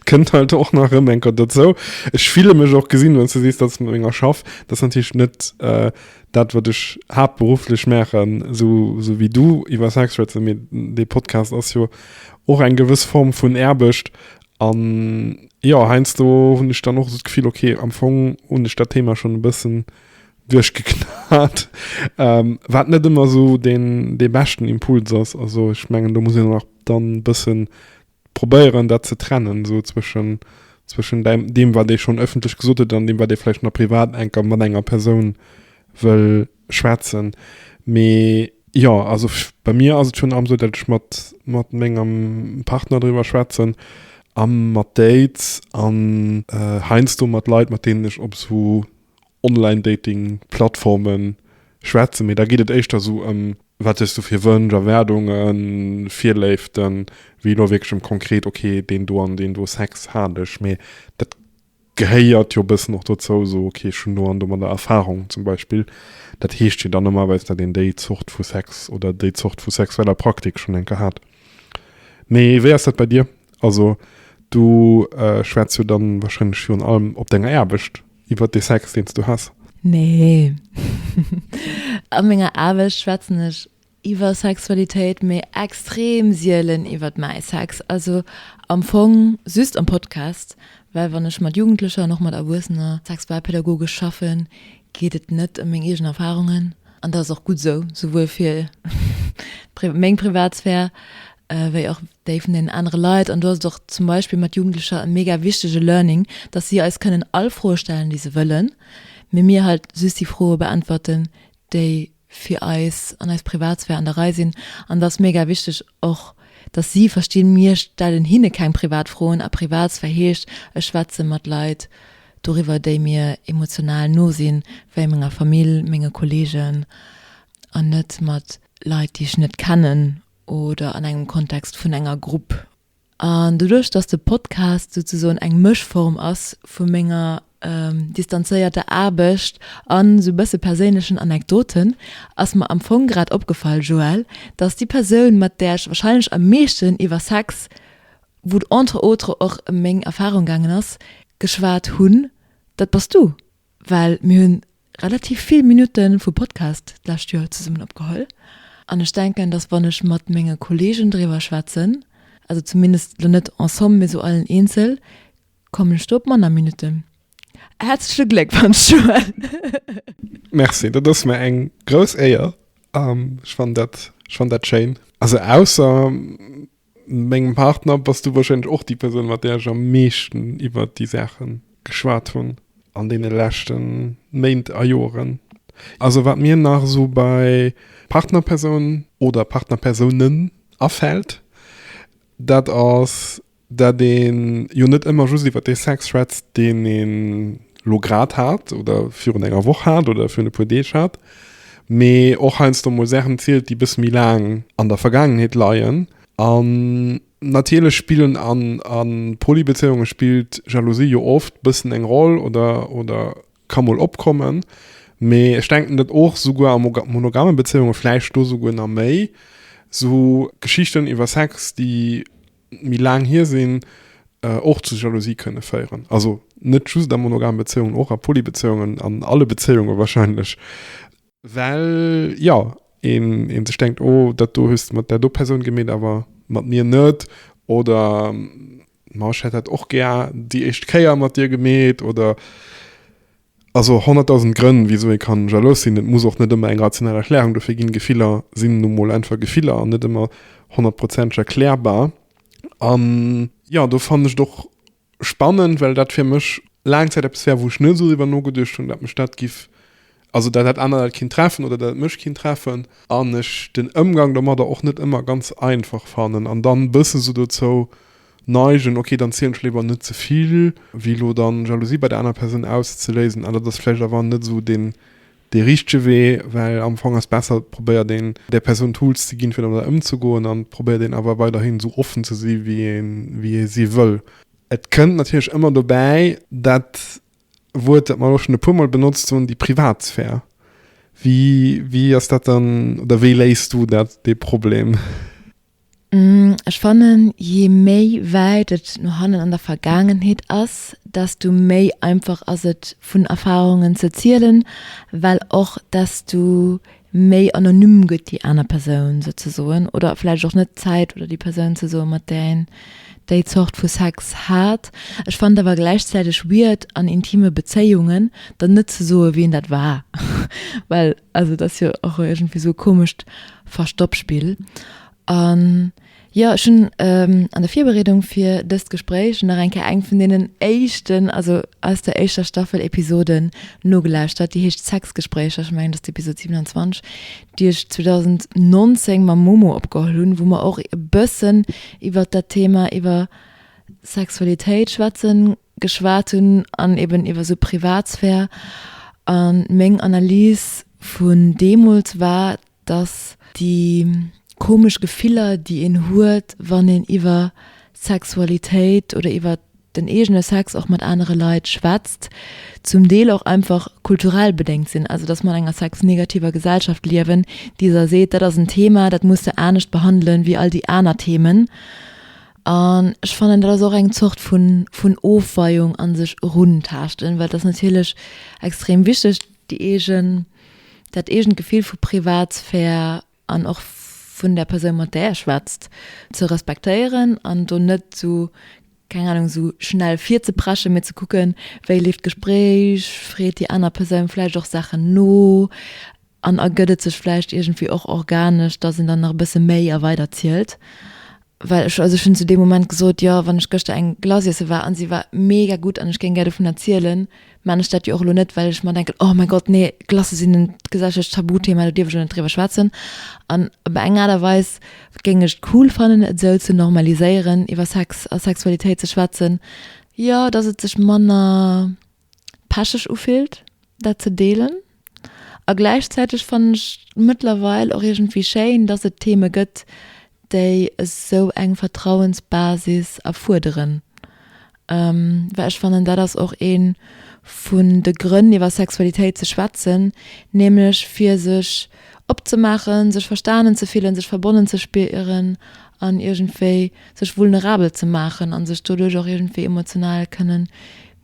kënnt halt och nach rëm enker dozou. Ech file mech och gesinn, wann du sees, datt mat menger schaff. Dat ass natierlech net äh, dat, wat ech haaptberufflech maachen, sou, sou wéi du iwwer Sex schwätzen, mee dee Podcast ass jo och eng gewëss Form vun Aarbecht. An jo, heiansdo hunn ech dann och esou d'Gefill, okay, am Fong hunn ech dat Thema schonn e bëssen duerchgeknat, wat net ëmmer esou deen dee beschten Impuls ass. Also ech mengen do muss een och dann e bëssen probéieren dat ze trennen esou zwëschen zwëschen däi deem wat ee schonn ëffentlech gesot huet an deem wat ee vläicht nach privat enker mat enger Persoun wëll schwätzen. Mee jo also bei mir ass et virun allem esou dat ech mat mat mengem Partner driwwer schwätzen a mat Dates an heiansdo mat Leit mat deenen ech op esou Online-Dating-Plattformen schwätzen, mee da geet et éischter esou ëm, wat hues du fir Wënsch, Erwaardungen, Virléiften, wéi elo wierklech ëm konkret, okay, deen do an deen do, Sex hat ech. Mee dat gehéiert jo e bëssen och dozou, esou, okay, ech hunn do an domadder Erfarung zum Beispill. Dat heescht jo dann normalerweis, datt een déi Zort vu Sex oder déi Zort vu sexueller Praktik schonn eng Kéier hat. Mee wéi ass dat bei dir? Also du schwätz jo dann warscheinlech virun allem op denger Aarbecht Iwwer dee Sex, deen s du has? Nee. A menger Aarbecht schwätzen ech iwwer Sexualitéit, mee extrem sielen iwwer mäi Sex. Also am Fong just am Podcast, well wann ech mat Jugendlecher an och mat Erwuessener sexualpädagogesch schaffen, geet et net ëm meng eegen Erfarungen, An dat ass och gutt esou, souwuel fir meng Privatsphär wéi och déi vun deenen anere Leit. An do ass et och zum Beispill mat Jugendlecher e mega wichtege Learning, dass si eis kënnen all Froe stellen, déi se wëllen, mee mir halt just déi Froe beäntwerten, déi fir eis an eis Privatsphär an der Rei sinn. An et ass mega wichteg och, dass si verstinn, mir stellen hinne keng privat Froen a Privatsphär heescht, ech schwätze mat Leit, doriwwer déi mir emotional no sinn, wéi menger Famill, menge Kollegen, an net mat Leit, déi ech net kennen oder an engem Kontext vun enger Grupp. An doduerch, dass de Podcast souzesoen eng Mëschform ass vu menger distanzéierter Aarbecht an esou bësse perséinlechen Anekdoten, ass mer am Fong grad opgefall, Joël, dass déi Persoun, mat där ech warscheinlech am meeschten iwwer Sex wou entre autres och meng Erfahrung gaangen ass, geschwat hunn, dat bass du. Well mir hu relativ vill Minutte vu Podcast d'lescht Joer zesummen opgeholl an ech denken, datt wann ech mat menge Kollegen driwwer schwätzen, also zumindest lo net en somme, mee sou allen eenzel, kommen ech do op manner Minutte. Häerzleche Gléckwonsch, Joël! Merci, dat ass mir eng grouss Éier. Ech fannen dat schéin. Also ausser. Mengem Partner bass du wahrscheinlech och déi Persoun, mat där ech am meeschten iwwert déi Saache geschwat hunn an deene leschte Méint a Joren. Also wat mir nach esou bei Partnerpersoun oder Partnerpersounen afält, dat ass, dat ee jo net ëmmer just iwwert dee Sex schwätzt, deen ee lo grad hat oder virun enger Woch hat oder virun e puer Deeg hat, Mee och heiansdo mol Saachen zielt, déi e bësse méi laang an der Vergaangenheet leien. An natierlech spillen an a Polybezéiunge spillt Jalousie jo oft e bëssen eng Roll oder, oder ka mol opkommen. Mee ech denken, datt och souguer a monogamme Bezéiunge, vläicht do souguer nach méi, sou Geschichten iwwer Sex, déi méi laang hier sinn, och zu Jalousie kënne féieren. Also net just a monogame Bezéiungen, och a Polybezéiungen, an alle Bezéiunge wahrscheinlech. Well, jo, ee sech denkt, oh, dat do hues de mat där do Persoun gemeet, awer mat mir net. Oder, ma ech hätt dat och gär déi éischt Kéier mat dir gemeet. Oder. Also honnertdausend Grënn, wisou ee kann jalous sinn. Et muss och net ëmmer eng rational Erklärung dofir ginn. Gefiller sinn nu mol einfach Gefiller an net ëmmer honnertprozenteg erklärbar. An jo, do fannen ech et och spannend, well dat fir mech laang Zäit eppes war, wou ech net esou driwwer nogeduecht hunn, dat mech dat giff, also dat dat aner dat kinnt treffen oder dat et mech kinnt treffen. An ech den Ëmgang domadder och net ëmmer ganz einfach fannen an dann bëssen esou dozou. Neigen, ok dann zielen ech léiwer net zevill wéi lo dann Jalousie bei der aner Persoun auszeléisen an dat ass vläicht awer net esou deen dee richtege Wee, well am Fong ass besser probéier deen där Persoun Tools ze ginn fir domadder ëmzegoen an probéier deen awer weiderhin esou offen ze si wéi een wéi ee si wëll. Et kënnt natierlech ëmmer dobäi dat Wuert, dat mer elo schonn e puer mol benotzt hunn, déi Privatsphär. Wéi wéi ass dat dann oder wéi léis du dat dee Problem? Ech fannen je méi wäit et no hannen an der Vergaangenheet ass, desto méi einfach ass et vun Erfarungen ze zielen, well och desto méi anonym gëtt déi aner Persoun souzesoen oder vläicht och net d'Zäit oder déi Persoun ze soen, mat där een déi Zort vu Sex hat. Ech fannen et awer gläichzäiteg weird an intime Bezéiungen dann net ze soe wien dat war, well. Also et ass jo och iergendwéi esou e komescht Verstoppspill. An jo, ech hunn an der Virbereedung fir dëst Gespréich nach eng Kéier eng vun deenen éischten, also aus der éischter Staffel, Episoden nogelauschtert. Déi heescht Sexgespréicher, ech mengen et ass d'Episod 27, déi ech 2019 mam Momo opgeholl hunn, wou mer och e bëssen iwwert dat Thema, iwwer Sexualitéit schwätzen, geschwat hunn an eben iwwer esou Privatsphär. An meng Analys vun deemools war, dass déi komesch Gefiller, déi een huet, wann een iwwer Sexualitéit oder iwwer den eegene Sex och mat anere Leit schwätzt, zum Deel och einfach kulturell bedéngt sinn. Also dass mer an enger sexnegativer Gesellschaft liewen, déi der seet, dat ass en Thema, dat muss de anescht behandelen, wéi all déi aner Themen. An ech fannen dat ass och eng Zort vun vun Ofweiung an sech eruntaaschten, well et ass natierlech extrem wichteg déi eegen dat eegent Gefill vu Privatsphär an och vun der Persoun mat där ee schwätzt ze respektéieren an do net esou keng Ahnung esou schnell virzepreschen, mee ze kucken wéi leeft d'Gespréich, freet déi aner Persoun vläicht och Saachen no. An ergëtt et sech vläicht iergendwéi och organesch, dass een dann nach e bësse méi a weider zielt. Well ech, also ech hunn zu deem Moment gesot, jo, wann ech gëschter eng Glace iesse war a se war mega gutt an ech géing gär dovunner zielen, mä an ech dat jo och elo net, well ech mer denken, oh mäi Gott, nee, Glacë sinn en gesellschaftlech Tabuthema, do dierf ech elo net driwwer schwätzen. An op eng Aart a Weis géing ech et cool fannen, et esou ze normaliséieren, iwwer Sex a Sexualitéit ze schwätzen, jo, dass et sech manner pecheg ufillt dat ze deelen a gläichzäiteg fannen ech mëttlerweil och iergendwéi schéin, dass et Theme gëtt, déi esou eng Vertrauensbasis erfuerderen, well ech fannen dat ass och ee vun de Grënn iwwer Sexualitéit ze schwätzen, nämlech fir sech opzemaachen, sech verstanen ze fillen, sech verbonnen ze spieren an iergendwéi sech vulnerabel ze maachen a sech doduerch och iergendwéi emotional kënnen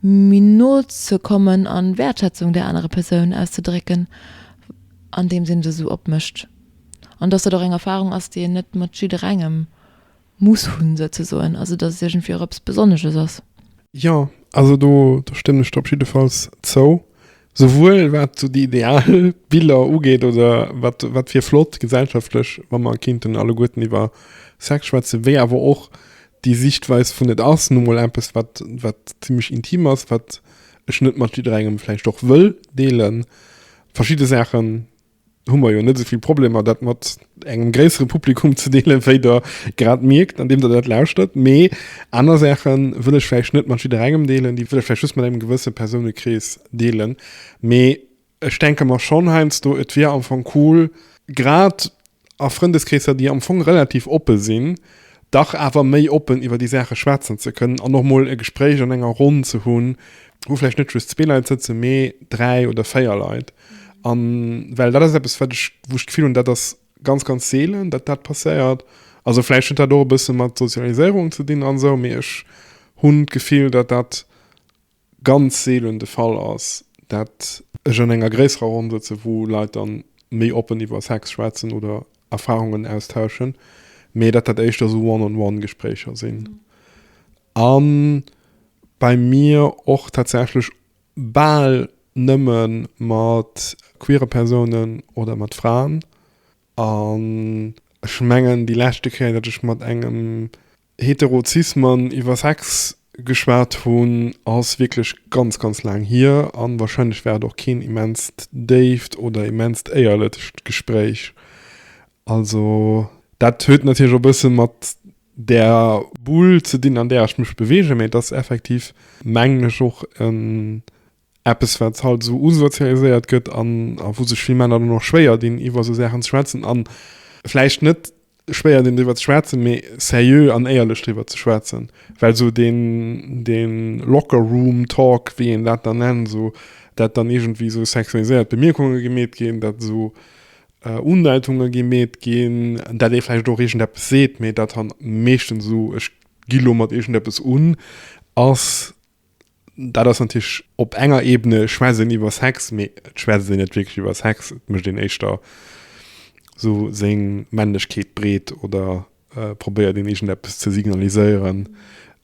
méi no ze kommen an Wäertschätzung där anerer Persoun auszedrécken an deems een se esou opmécht an dass dat och eng Erfahrung ass déi een net mat jidderengem muss hunn souzesoen, also dass et iergendwéi och eppes Besonnesches ass. Jo, also do stëmmen ech der op jiddefalls zou. Souwuel wat sou déi ideal Biller ugeet oder wat wat wier flott gesellschaftlech, wa mer kinnten alleguerten iwwer Sex schwätzen, wéi awer och déi Siichtweis vun et ass nu mol eppes wat wat zimlech intim ass, wat ech net mat jidderengem vläicht och wëll deelen, verschidde Saachen. hu mer jo net esou vill Problemer, dat mat engem gréissere Publikum ze deelen, wéi Der grad mierkt, andeem Der dat lauschtert. Mee aner Saache wëll ech vläicht net mat jidderengem deelen, déi wëll ech vläicht just mat engem gewësse Persounekrees deelen. Mee ech denke mer schonn heiansdo, et wier am Fong cool, grad a Frëndeskreesser, déi am Fong relativ oppe sinn, dach awer méi oppen iwwer déi Saache schwätzen ze kënnen an och mol e Gespréich an enger Ronn ze hunn, wou vläicht net just zwee Leit sëtzen, mee dräi oder véier Leit. An well dat ass eppes, wat ech, wou ech d'Gefill hunn, dat ass ganz, ganz seelen, datt dat passéiert. Also vläicht huet dat och e bësse mat Sozialiséierung ze dinn an esou, mee ech hunn d'Gefill, datt dat ganz seelen de Fall ass, datt ech an enger gréisserer Ronn sëtzen, wou Leit dann méi oppen iwwer Sex schwätzen oder Erfarungen austauschen, mee datt dat éischter esou One-on-one-Gespréicher sinn. A bei mir och tatsächlech bal nëmme mat queere Persounen oder mat Fraen. An ech mengen, déi leschte Kéier, datt ech mat engem hetero cis Mann iwwer Sex geschwat hunn, ass wierklech ganz, ganz laang hier. A warscheinlech war et och keen immenst déift oder immenst éierlecht Gespréich. Also dat huet natierlech och e bësse mat der Bull ze dinn, an där ech mech beweegen. Mä et ass effektiv, mengen ech, och eppes, wat halt esou usozialiséiert gëtt an wou sech vill Männer dann och schwéier dinn, iwwer esou Saachen ze schwätzen. A vläicht net schwéier dinn, driwwer ze schwätzen, mä seriö an éierlech driwwer ze schwätzen. Well esou dee Locker Room Talk, wéi een dat dann nennt, esou dat dann iergendwéi esou sexualiséiert Bemierkunge gemeet ginn, dat esou Undeitunge gi meet ginn, dat ee vläicht och iergendeppes seet, mee dat dann meeschtens esou, ech gi lo mat iergendeppes un, ass, dat ass natierlech op enger Ebene schwätzt een iwwer Sex, mee et schwätzt een net wierklech iwwer Sex, et mécht een éischter esou seng Männlechkeet breet oder probéiert een egent eppes ze signaliséieren,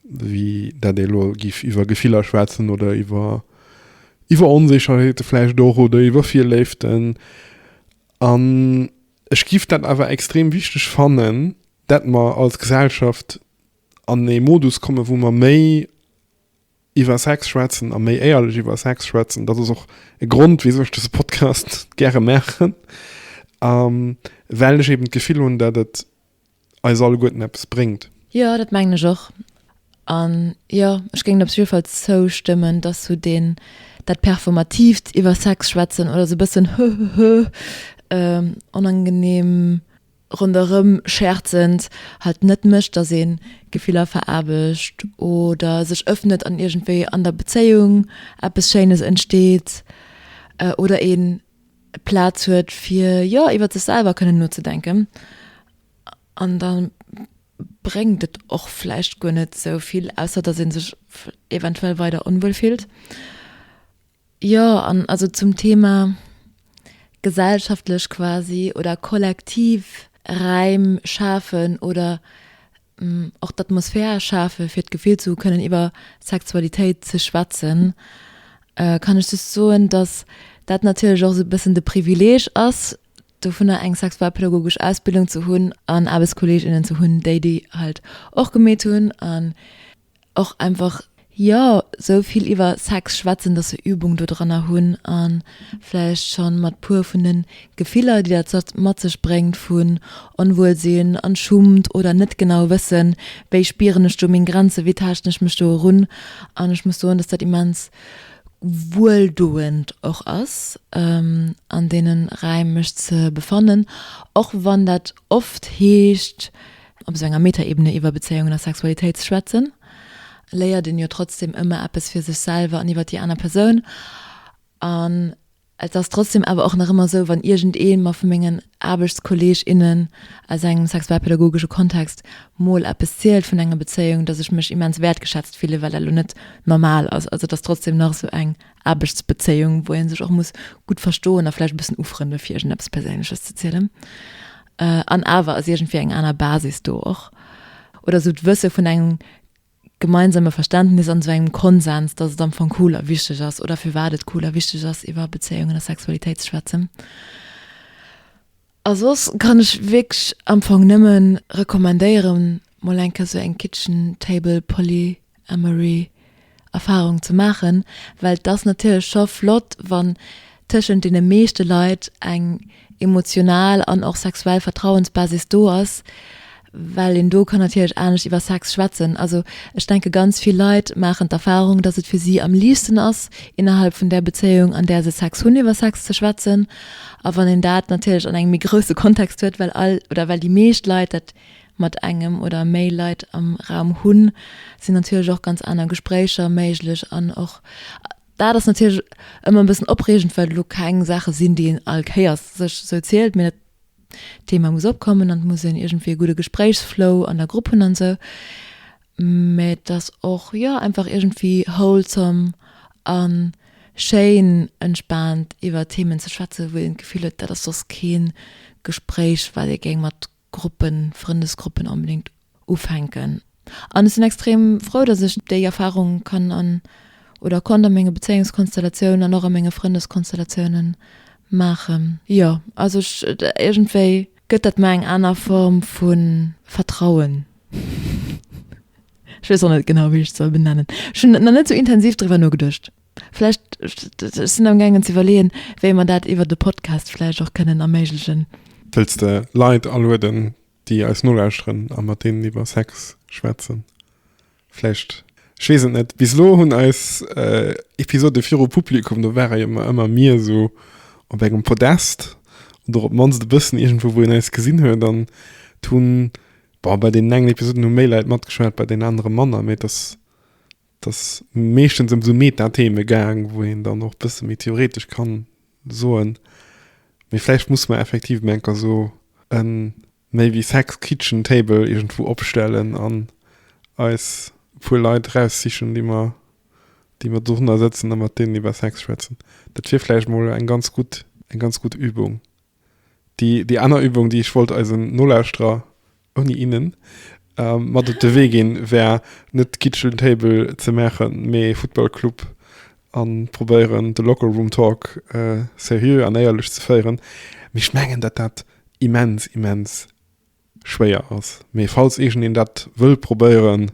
wéi dat ee lo giff iwwer Gefiller schwätzen oder iwwer iwwer Onsécherheete vläicht och oder iwwer Virléiften. An ech giff dat awer extrem wichteg fannen, dat mer als Gesellschaft an ee Modus komme wou mer méi, Iwwer Sex schwätzen a méi éierlech iwwer Sex schwätzen, dat ass och e Grond, wisou ech dëse Podcast gäre maachen, well ech eben d'Gefill hunn, datt et eis alleguerten eppes bréngt. Jo, dat mengen ech och. An jo, ech géing et op jidde Fall zoustëmmen, datt sou deen, dat Performatiivt iwwer Sex schwätzen oder sou e bëssen, hëhëhë, onangenehm ronderëm schäerzend, halt net mécht, dass ee Gefiller veraarbecht oder sech ëffnet an iergendwéi an der Bezéiung eppes Schéines entsteet oder ee Plaz huet, fir jo iwwer sech selwer kënnen nozedenken. An da bréngt et och vläicht guer net esou vill, ausser dass ee sech eventuell weider onwuel fillt. Jo, an also zum Thema gesellschaftlech quasi oder kollektiv Räim schafen oder och d'Atmosphär schafe fir d'Gefill ze hu kënnen iwwer Sexualitéit ze schwätzen, kann ech just soen, datt dat natierlech och esou e bëssen de Privileeg ass dovunner eng sexualpädagogesch Ausbildung ze hunn an Aarbechtskolleeg innen ze hunn, déi déi halt och gemeet hunn an och einfach jo sou vill iwwer Sex schwätzen, dass se Übung do dranner hunn a vläicht scho mat puer vun de Gefiller déi dat sech mat sech bréngt vun Onwuelsinn an Schummt oder net genau wëssen, wéi spieren ech do meng Grenzen, wéi taaschten ech mech do erun an ech muss soen, dass dat immens wueldoend och ass an deenen Räim mech ze befannen, och wann dat oft heescht, op esou enger Metaebene iwwer Bezéiungen a Sexualitéit ze schwätzen, léiert een jo trotzdem ëmmer eppes fir sech selwer an iwwer déi aner Persoun. An et ass trotzdem awer och nach ëmmer esou, wann iergendee mer vu mengen Aarbechtskolleeg, innen aus engem sexualpädagogesche Kontext mol eppes zielt vun enger Bezéiung, dass ech mech immens wäertgeschätzt fille well dat elo net normal ass. Also et ass trotzdem nach esou eng Aarbechtsbezéiung, wou ee sech och muss gutt verstoen a vläicht e bëssen ufrëndele fir iergendeppes Perséinleches ze zielen. An awer ass iergendwéi eng aner Basis do och. Oder esou d'Wësse vun engem gemeinsame Verständnis an esou engem Konsens, datt et am Fong cool a wichteg ass oder firwat et cool a wichteg ass iwwer Bezéiungen a Sexualitéit ze schwätzen. A soss kann ech wierklech am Fong nëmme recommandéieren, mol eng Kéier sou eng Kitchen Table Polyamory Erfarung ze maachen, well et ass natierlech scho flott, wann tëschent deene meeschte Leit eng emotional an och sexuell Vertrauensbasis do ass, well een do kann natierlech anescht iwwer Sex schwätzen. Also ech denke ganz vill Leit maachen d'Erfarung, dass et fir si am liichtsten ass innerhalb vun där Bezéiung an där se Sex hunn iwwer Sex ze schwätzen. A wann een dat natierlech an engem méi grousse Kontext huet, well all oder well déi meescht Leit dat mat engem oder méi Leit am Raum hunn, sinn natierlech och ganz aner Gespréicher méiglech an och dat ass natierlech ëmmer e bëssen opreegend, well elo keng Saache sinn, déi een all Kéiers sech esou zielt, mee dat, D'Thema muss opkommen an et muss een iergendwéi e gudde Gespréichsflow an der Grupp hunn an esou. Mä et ass och, jo, einfach iergendwéi wholesome a schéin entspaant iwwer Themen ze schwätzen, wou een d'Gefill huet, dat ass soss kee Gespréich, wat ee géing mat Gruppen, Frëndesgruppen onbedéngt ufänken an ech sinn extrem frou dass ech déi Erfahrung kann an oder konnt a menge Bezéiungskonstellatiounen an och a menge Frëndeskonstellatiounen maachen. Jo, also ech iergendwéi gëtt dat mer eng aner Form vu Vertrauen. Ech weess och net genau wéi ech et soll benennen. Ech hunn nach net sou intensiv driwwer nogeduecht. Vläicht, ech sinn am gaangen ze iwwerleeën wéi mer dat iwwert e Podcast vläicht och kënnen erméiglechen. Wëlls de Leit alueden déi eis nolauschteren a mat deenen iwwer Sex schwätzen, vläicht, ech weess et net. Bis elo hunn eis Episode viru Publikum, do ware jo mer ëmmer mir esou op engem Podest oder op d'mannst e bëssen iergendwou, wou een eis gesinn huet an et hunn, bon, bei deenen engen Episoden hu méi Leit matgeschwat, bei deenen anere manner, mee et ass Et ass meeschtens ëm sou Meta-Theme gaang, wou een dann och bësse méi theoretesch kann soen, mee vläicht musse mer effektiv meng ka sou e maybe sex kitchen table iergendwou opstellen an eis e puer Leit eraussichen, déi mer, déi mer dorunner sëtzen a mat deenen iwwer Sex schwätzen. Dat wier vläicht mol eng ganz gutt, eng ganz gutt Übung. déi, déi aner Übung, déi ech wollt eisen Nolauschterer, ouni innen, ähm, mat op de Wee ginn, wär net Kitchen Table ze maachen, mee Futtballclub a probéieren, de Locker Room Talk äh, seriö an éierlech ze féieren. Mee ech mengen, datt dat immens, immens Schwéier ass, mee falls iergend een dat wëll probéieren,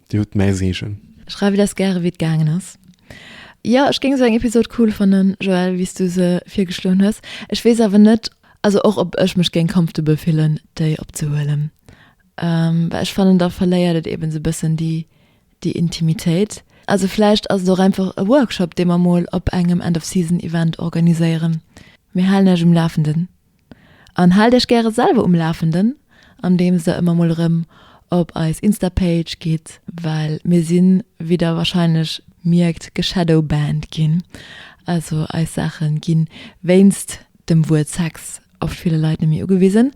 dir hutt mäi Seegen. Schreiwt eis gäre wéi et gaangen ass. Jo ech géing sou eng Episode cool fannen Joël wéi's du se virgeschloen hues. Ech wees awer net also och ob ech mech géing comfortable fillen déi opzehuelen well ech fannen da verléiert et eben sou bëssen déi déi Intimitéit. Also vläicht ass et och einfach e Workshop dee mer mol op engem End of Season Event organiséieren. Mir halen iech um Lafenden. An haalt iech gäre selwer um Lafenden andeems der ëmmer mol erëm op eis Insta-Page gitt, well mir sinn, wéi der wahrscheinlech mierkt, geshadowbanned ginn. Also eis Saache gi wéinst dem Wuert Sex oft ville Leit net méi ugewisen.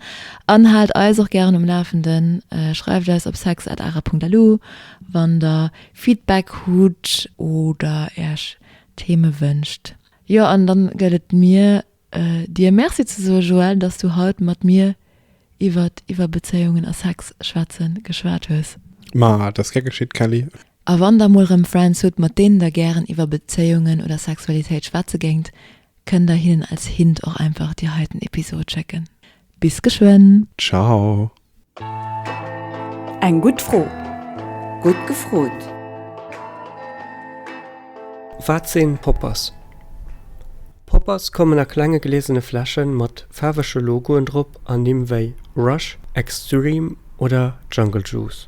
An haalt eis och gären um Lafenden, schreift eis op sex@ara.lu wann der Feedback hutt oder iech Theme wënscht. Jo an dann gëtt et mir. dir Merci ze soen, Joël, dass du haut mat mir iwwer iwwer Bezéiungen a Sex schwätze geschwat hues. Ma dat ass gär geschitt, Kelly. A wann der mol rëm Friends hutt, mat deenen der gären iwwer Bezéiungen oder Sexualitéit schwätze géingt, kënnt der hinnen als Hint och einfach déi heiten Episod schécken. Bis geschwënn! Ciao! Eng gutt Fro! Gutt gefrot! Wat sinn Poppers? Poppers kommen a klenge gläsene Fläschen mat faarwege Logoen drop an Nimm wéi Rush, Extreme oder Jungle Juice.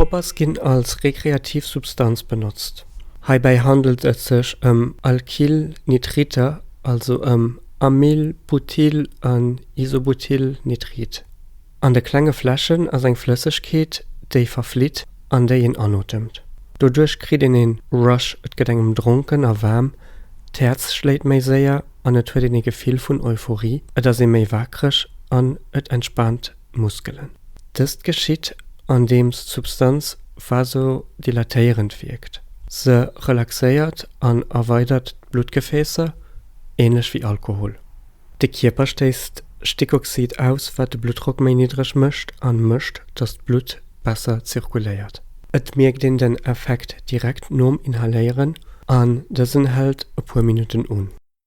Poppers ginn als rekreativ Substanz benotzt. Heibäi handelt et sech ëm Alkylnitriter, also ëm Amyl-, Butyl an Isobutylnitrit. An de klenge Fläschen ass eng Flëssegkeet, déi verflitt an déi een anotemt. Doduerch kritt een ee Rush, et gëtt engem dronken a waarm, d'Häerz schléit méi séier an et huet een ee Gefill vun Euphorie, et ass ee méi wakereg an et entspaant. Muskelen. Dëst geschitt andeems d'Substanz vasodilatéierend wierkt, se relaxéiert an erweidert d'Bluttgefäässer, änlech wéi Alkohol. De Kierper stéisst Stickoxid aus, wat de Bluttdrock méi niddreg mécht a mécht, datt d'Blutt besser zirkuléiert. Et mierkt een den Effekt direkt nom Inhaléieren an dësen hält e puer Minutten un.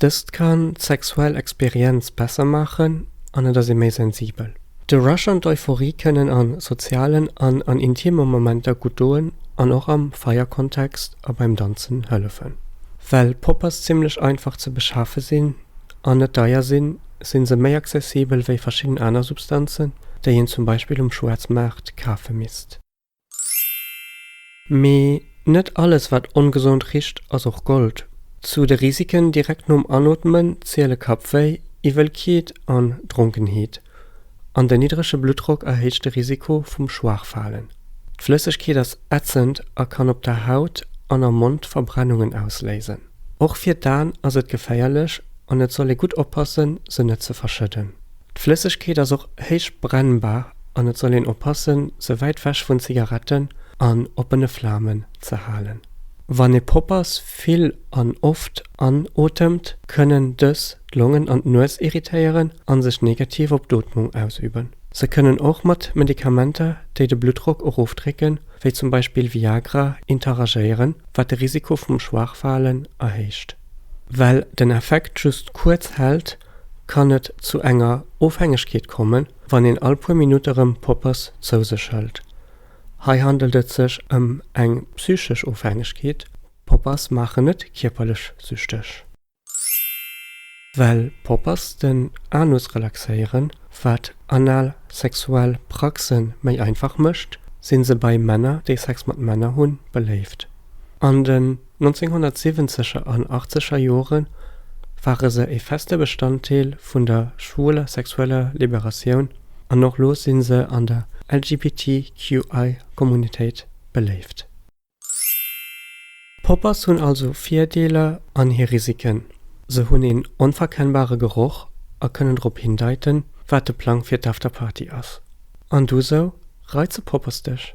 Dëst kann d'sexuell Experienz besser maachen an et ass ee méi sensibel. De Rush an d'Euphorie kënnen a sozialen an an intime Momenter gutt doen an och am Feierkontext a beim Danzen hëllefen. Well Poppers zimmlech einfach ze beschafe sinn an net deier sinn, si se méi accessibel wéi verschidden aner Substanzen, déi een zum Beispill um Schwaarzmaart kafe misst. Mee net alles wat ongesond richt ass och Gold. Zu de Risiken direkt nom Anootmen ziele Kappwéi, Iwwelkeet an Dronkenheet. An den niddrege Bluttdrock erhéicht de Risiko vum Schwaachfalen. D'Flëssegkeet ass ätzend a kann op der Haut an am Mond Verbrennungen ausléisen. Och fir d'Aen ass et geféierlech an et soll ee gutt oppassen se net ze verschëdden. D'Flëssegkeet ass och héich brennbar an et soll een oppassen se wäit wech vun Zigaretten an oppene Flamen ze halen. Wann ee Poppers vill an oft anotemt, kënnen dës d'Longen an d'Nues irritéieren a sech negativ op d'Ootmung ausüben. Se kënnen och mat Medikamenter, déi de Bluttdrock erofdrécken, wéi zum Beispill Viagra, interagéieren, wat de Risiko vum Schwaachfalen erhéicht. Well den Effekt just kuerz hält, kann et zu enger Ofhängegkeet kommen, wann een all puer Minutt erëm Poppers zou sech hëlt. Hei handelt et sech ëm eng psychesch Ofhängegkeet, Poppers maachen net kierperlech süchteg. Well Poppers den Anus relaxéieren, wat anal sexuell Praxe méi einfach mécht, si se bei Männer, déi Sex mat Männer hunn, beléift. An den. 1970er an achtzeger Jore ware se e feste Bestanddeel vun der schwuler sexueller Liberatioun an och lo si se an der LGBTQI-Communitéit beléift. Poppers hunn also Virdeeler an hir Risiken, se hunn een onverkennbare Geroch a kënnen drop hindeiten, wat de Plang fir d'Afterparty ass. An du sou, reize Poppers dech?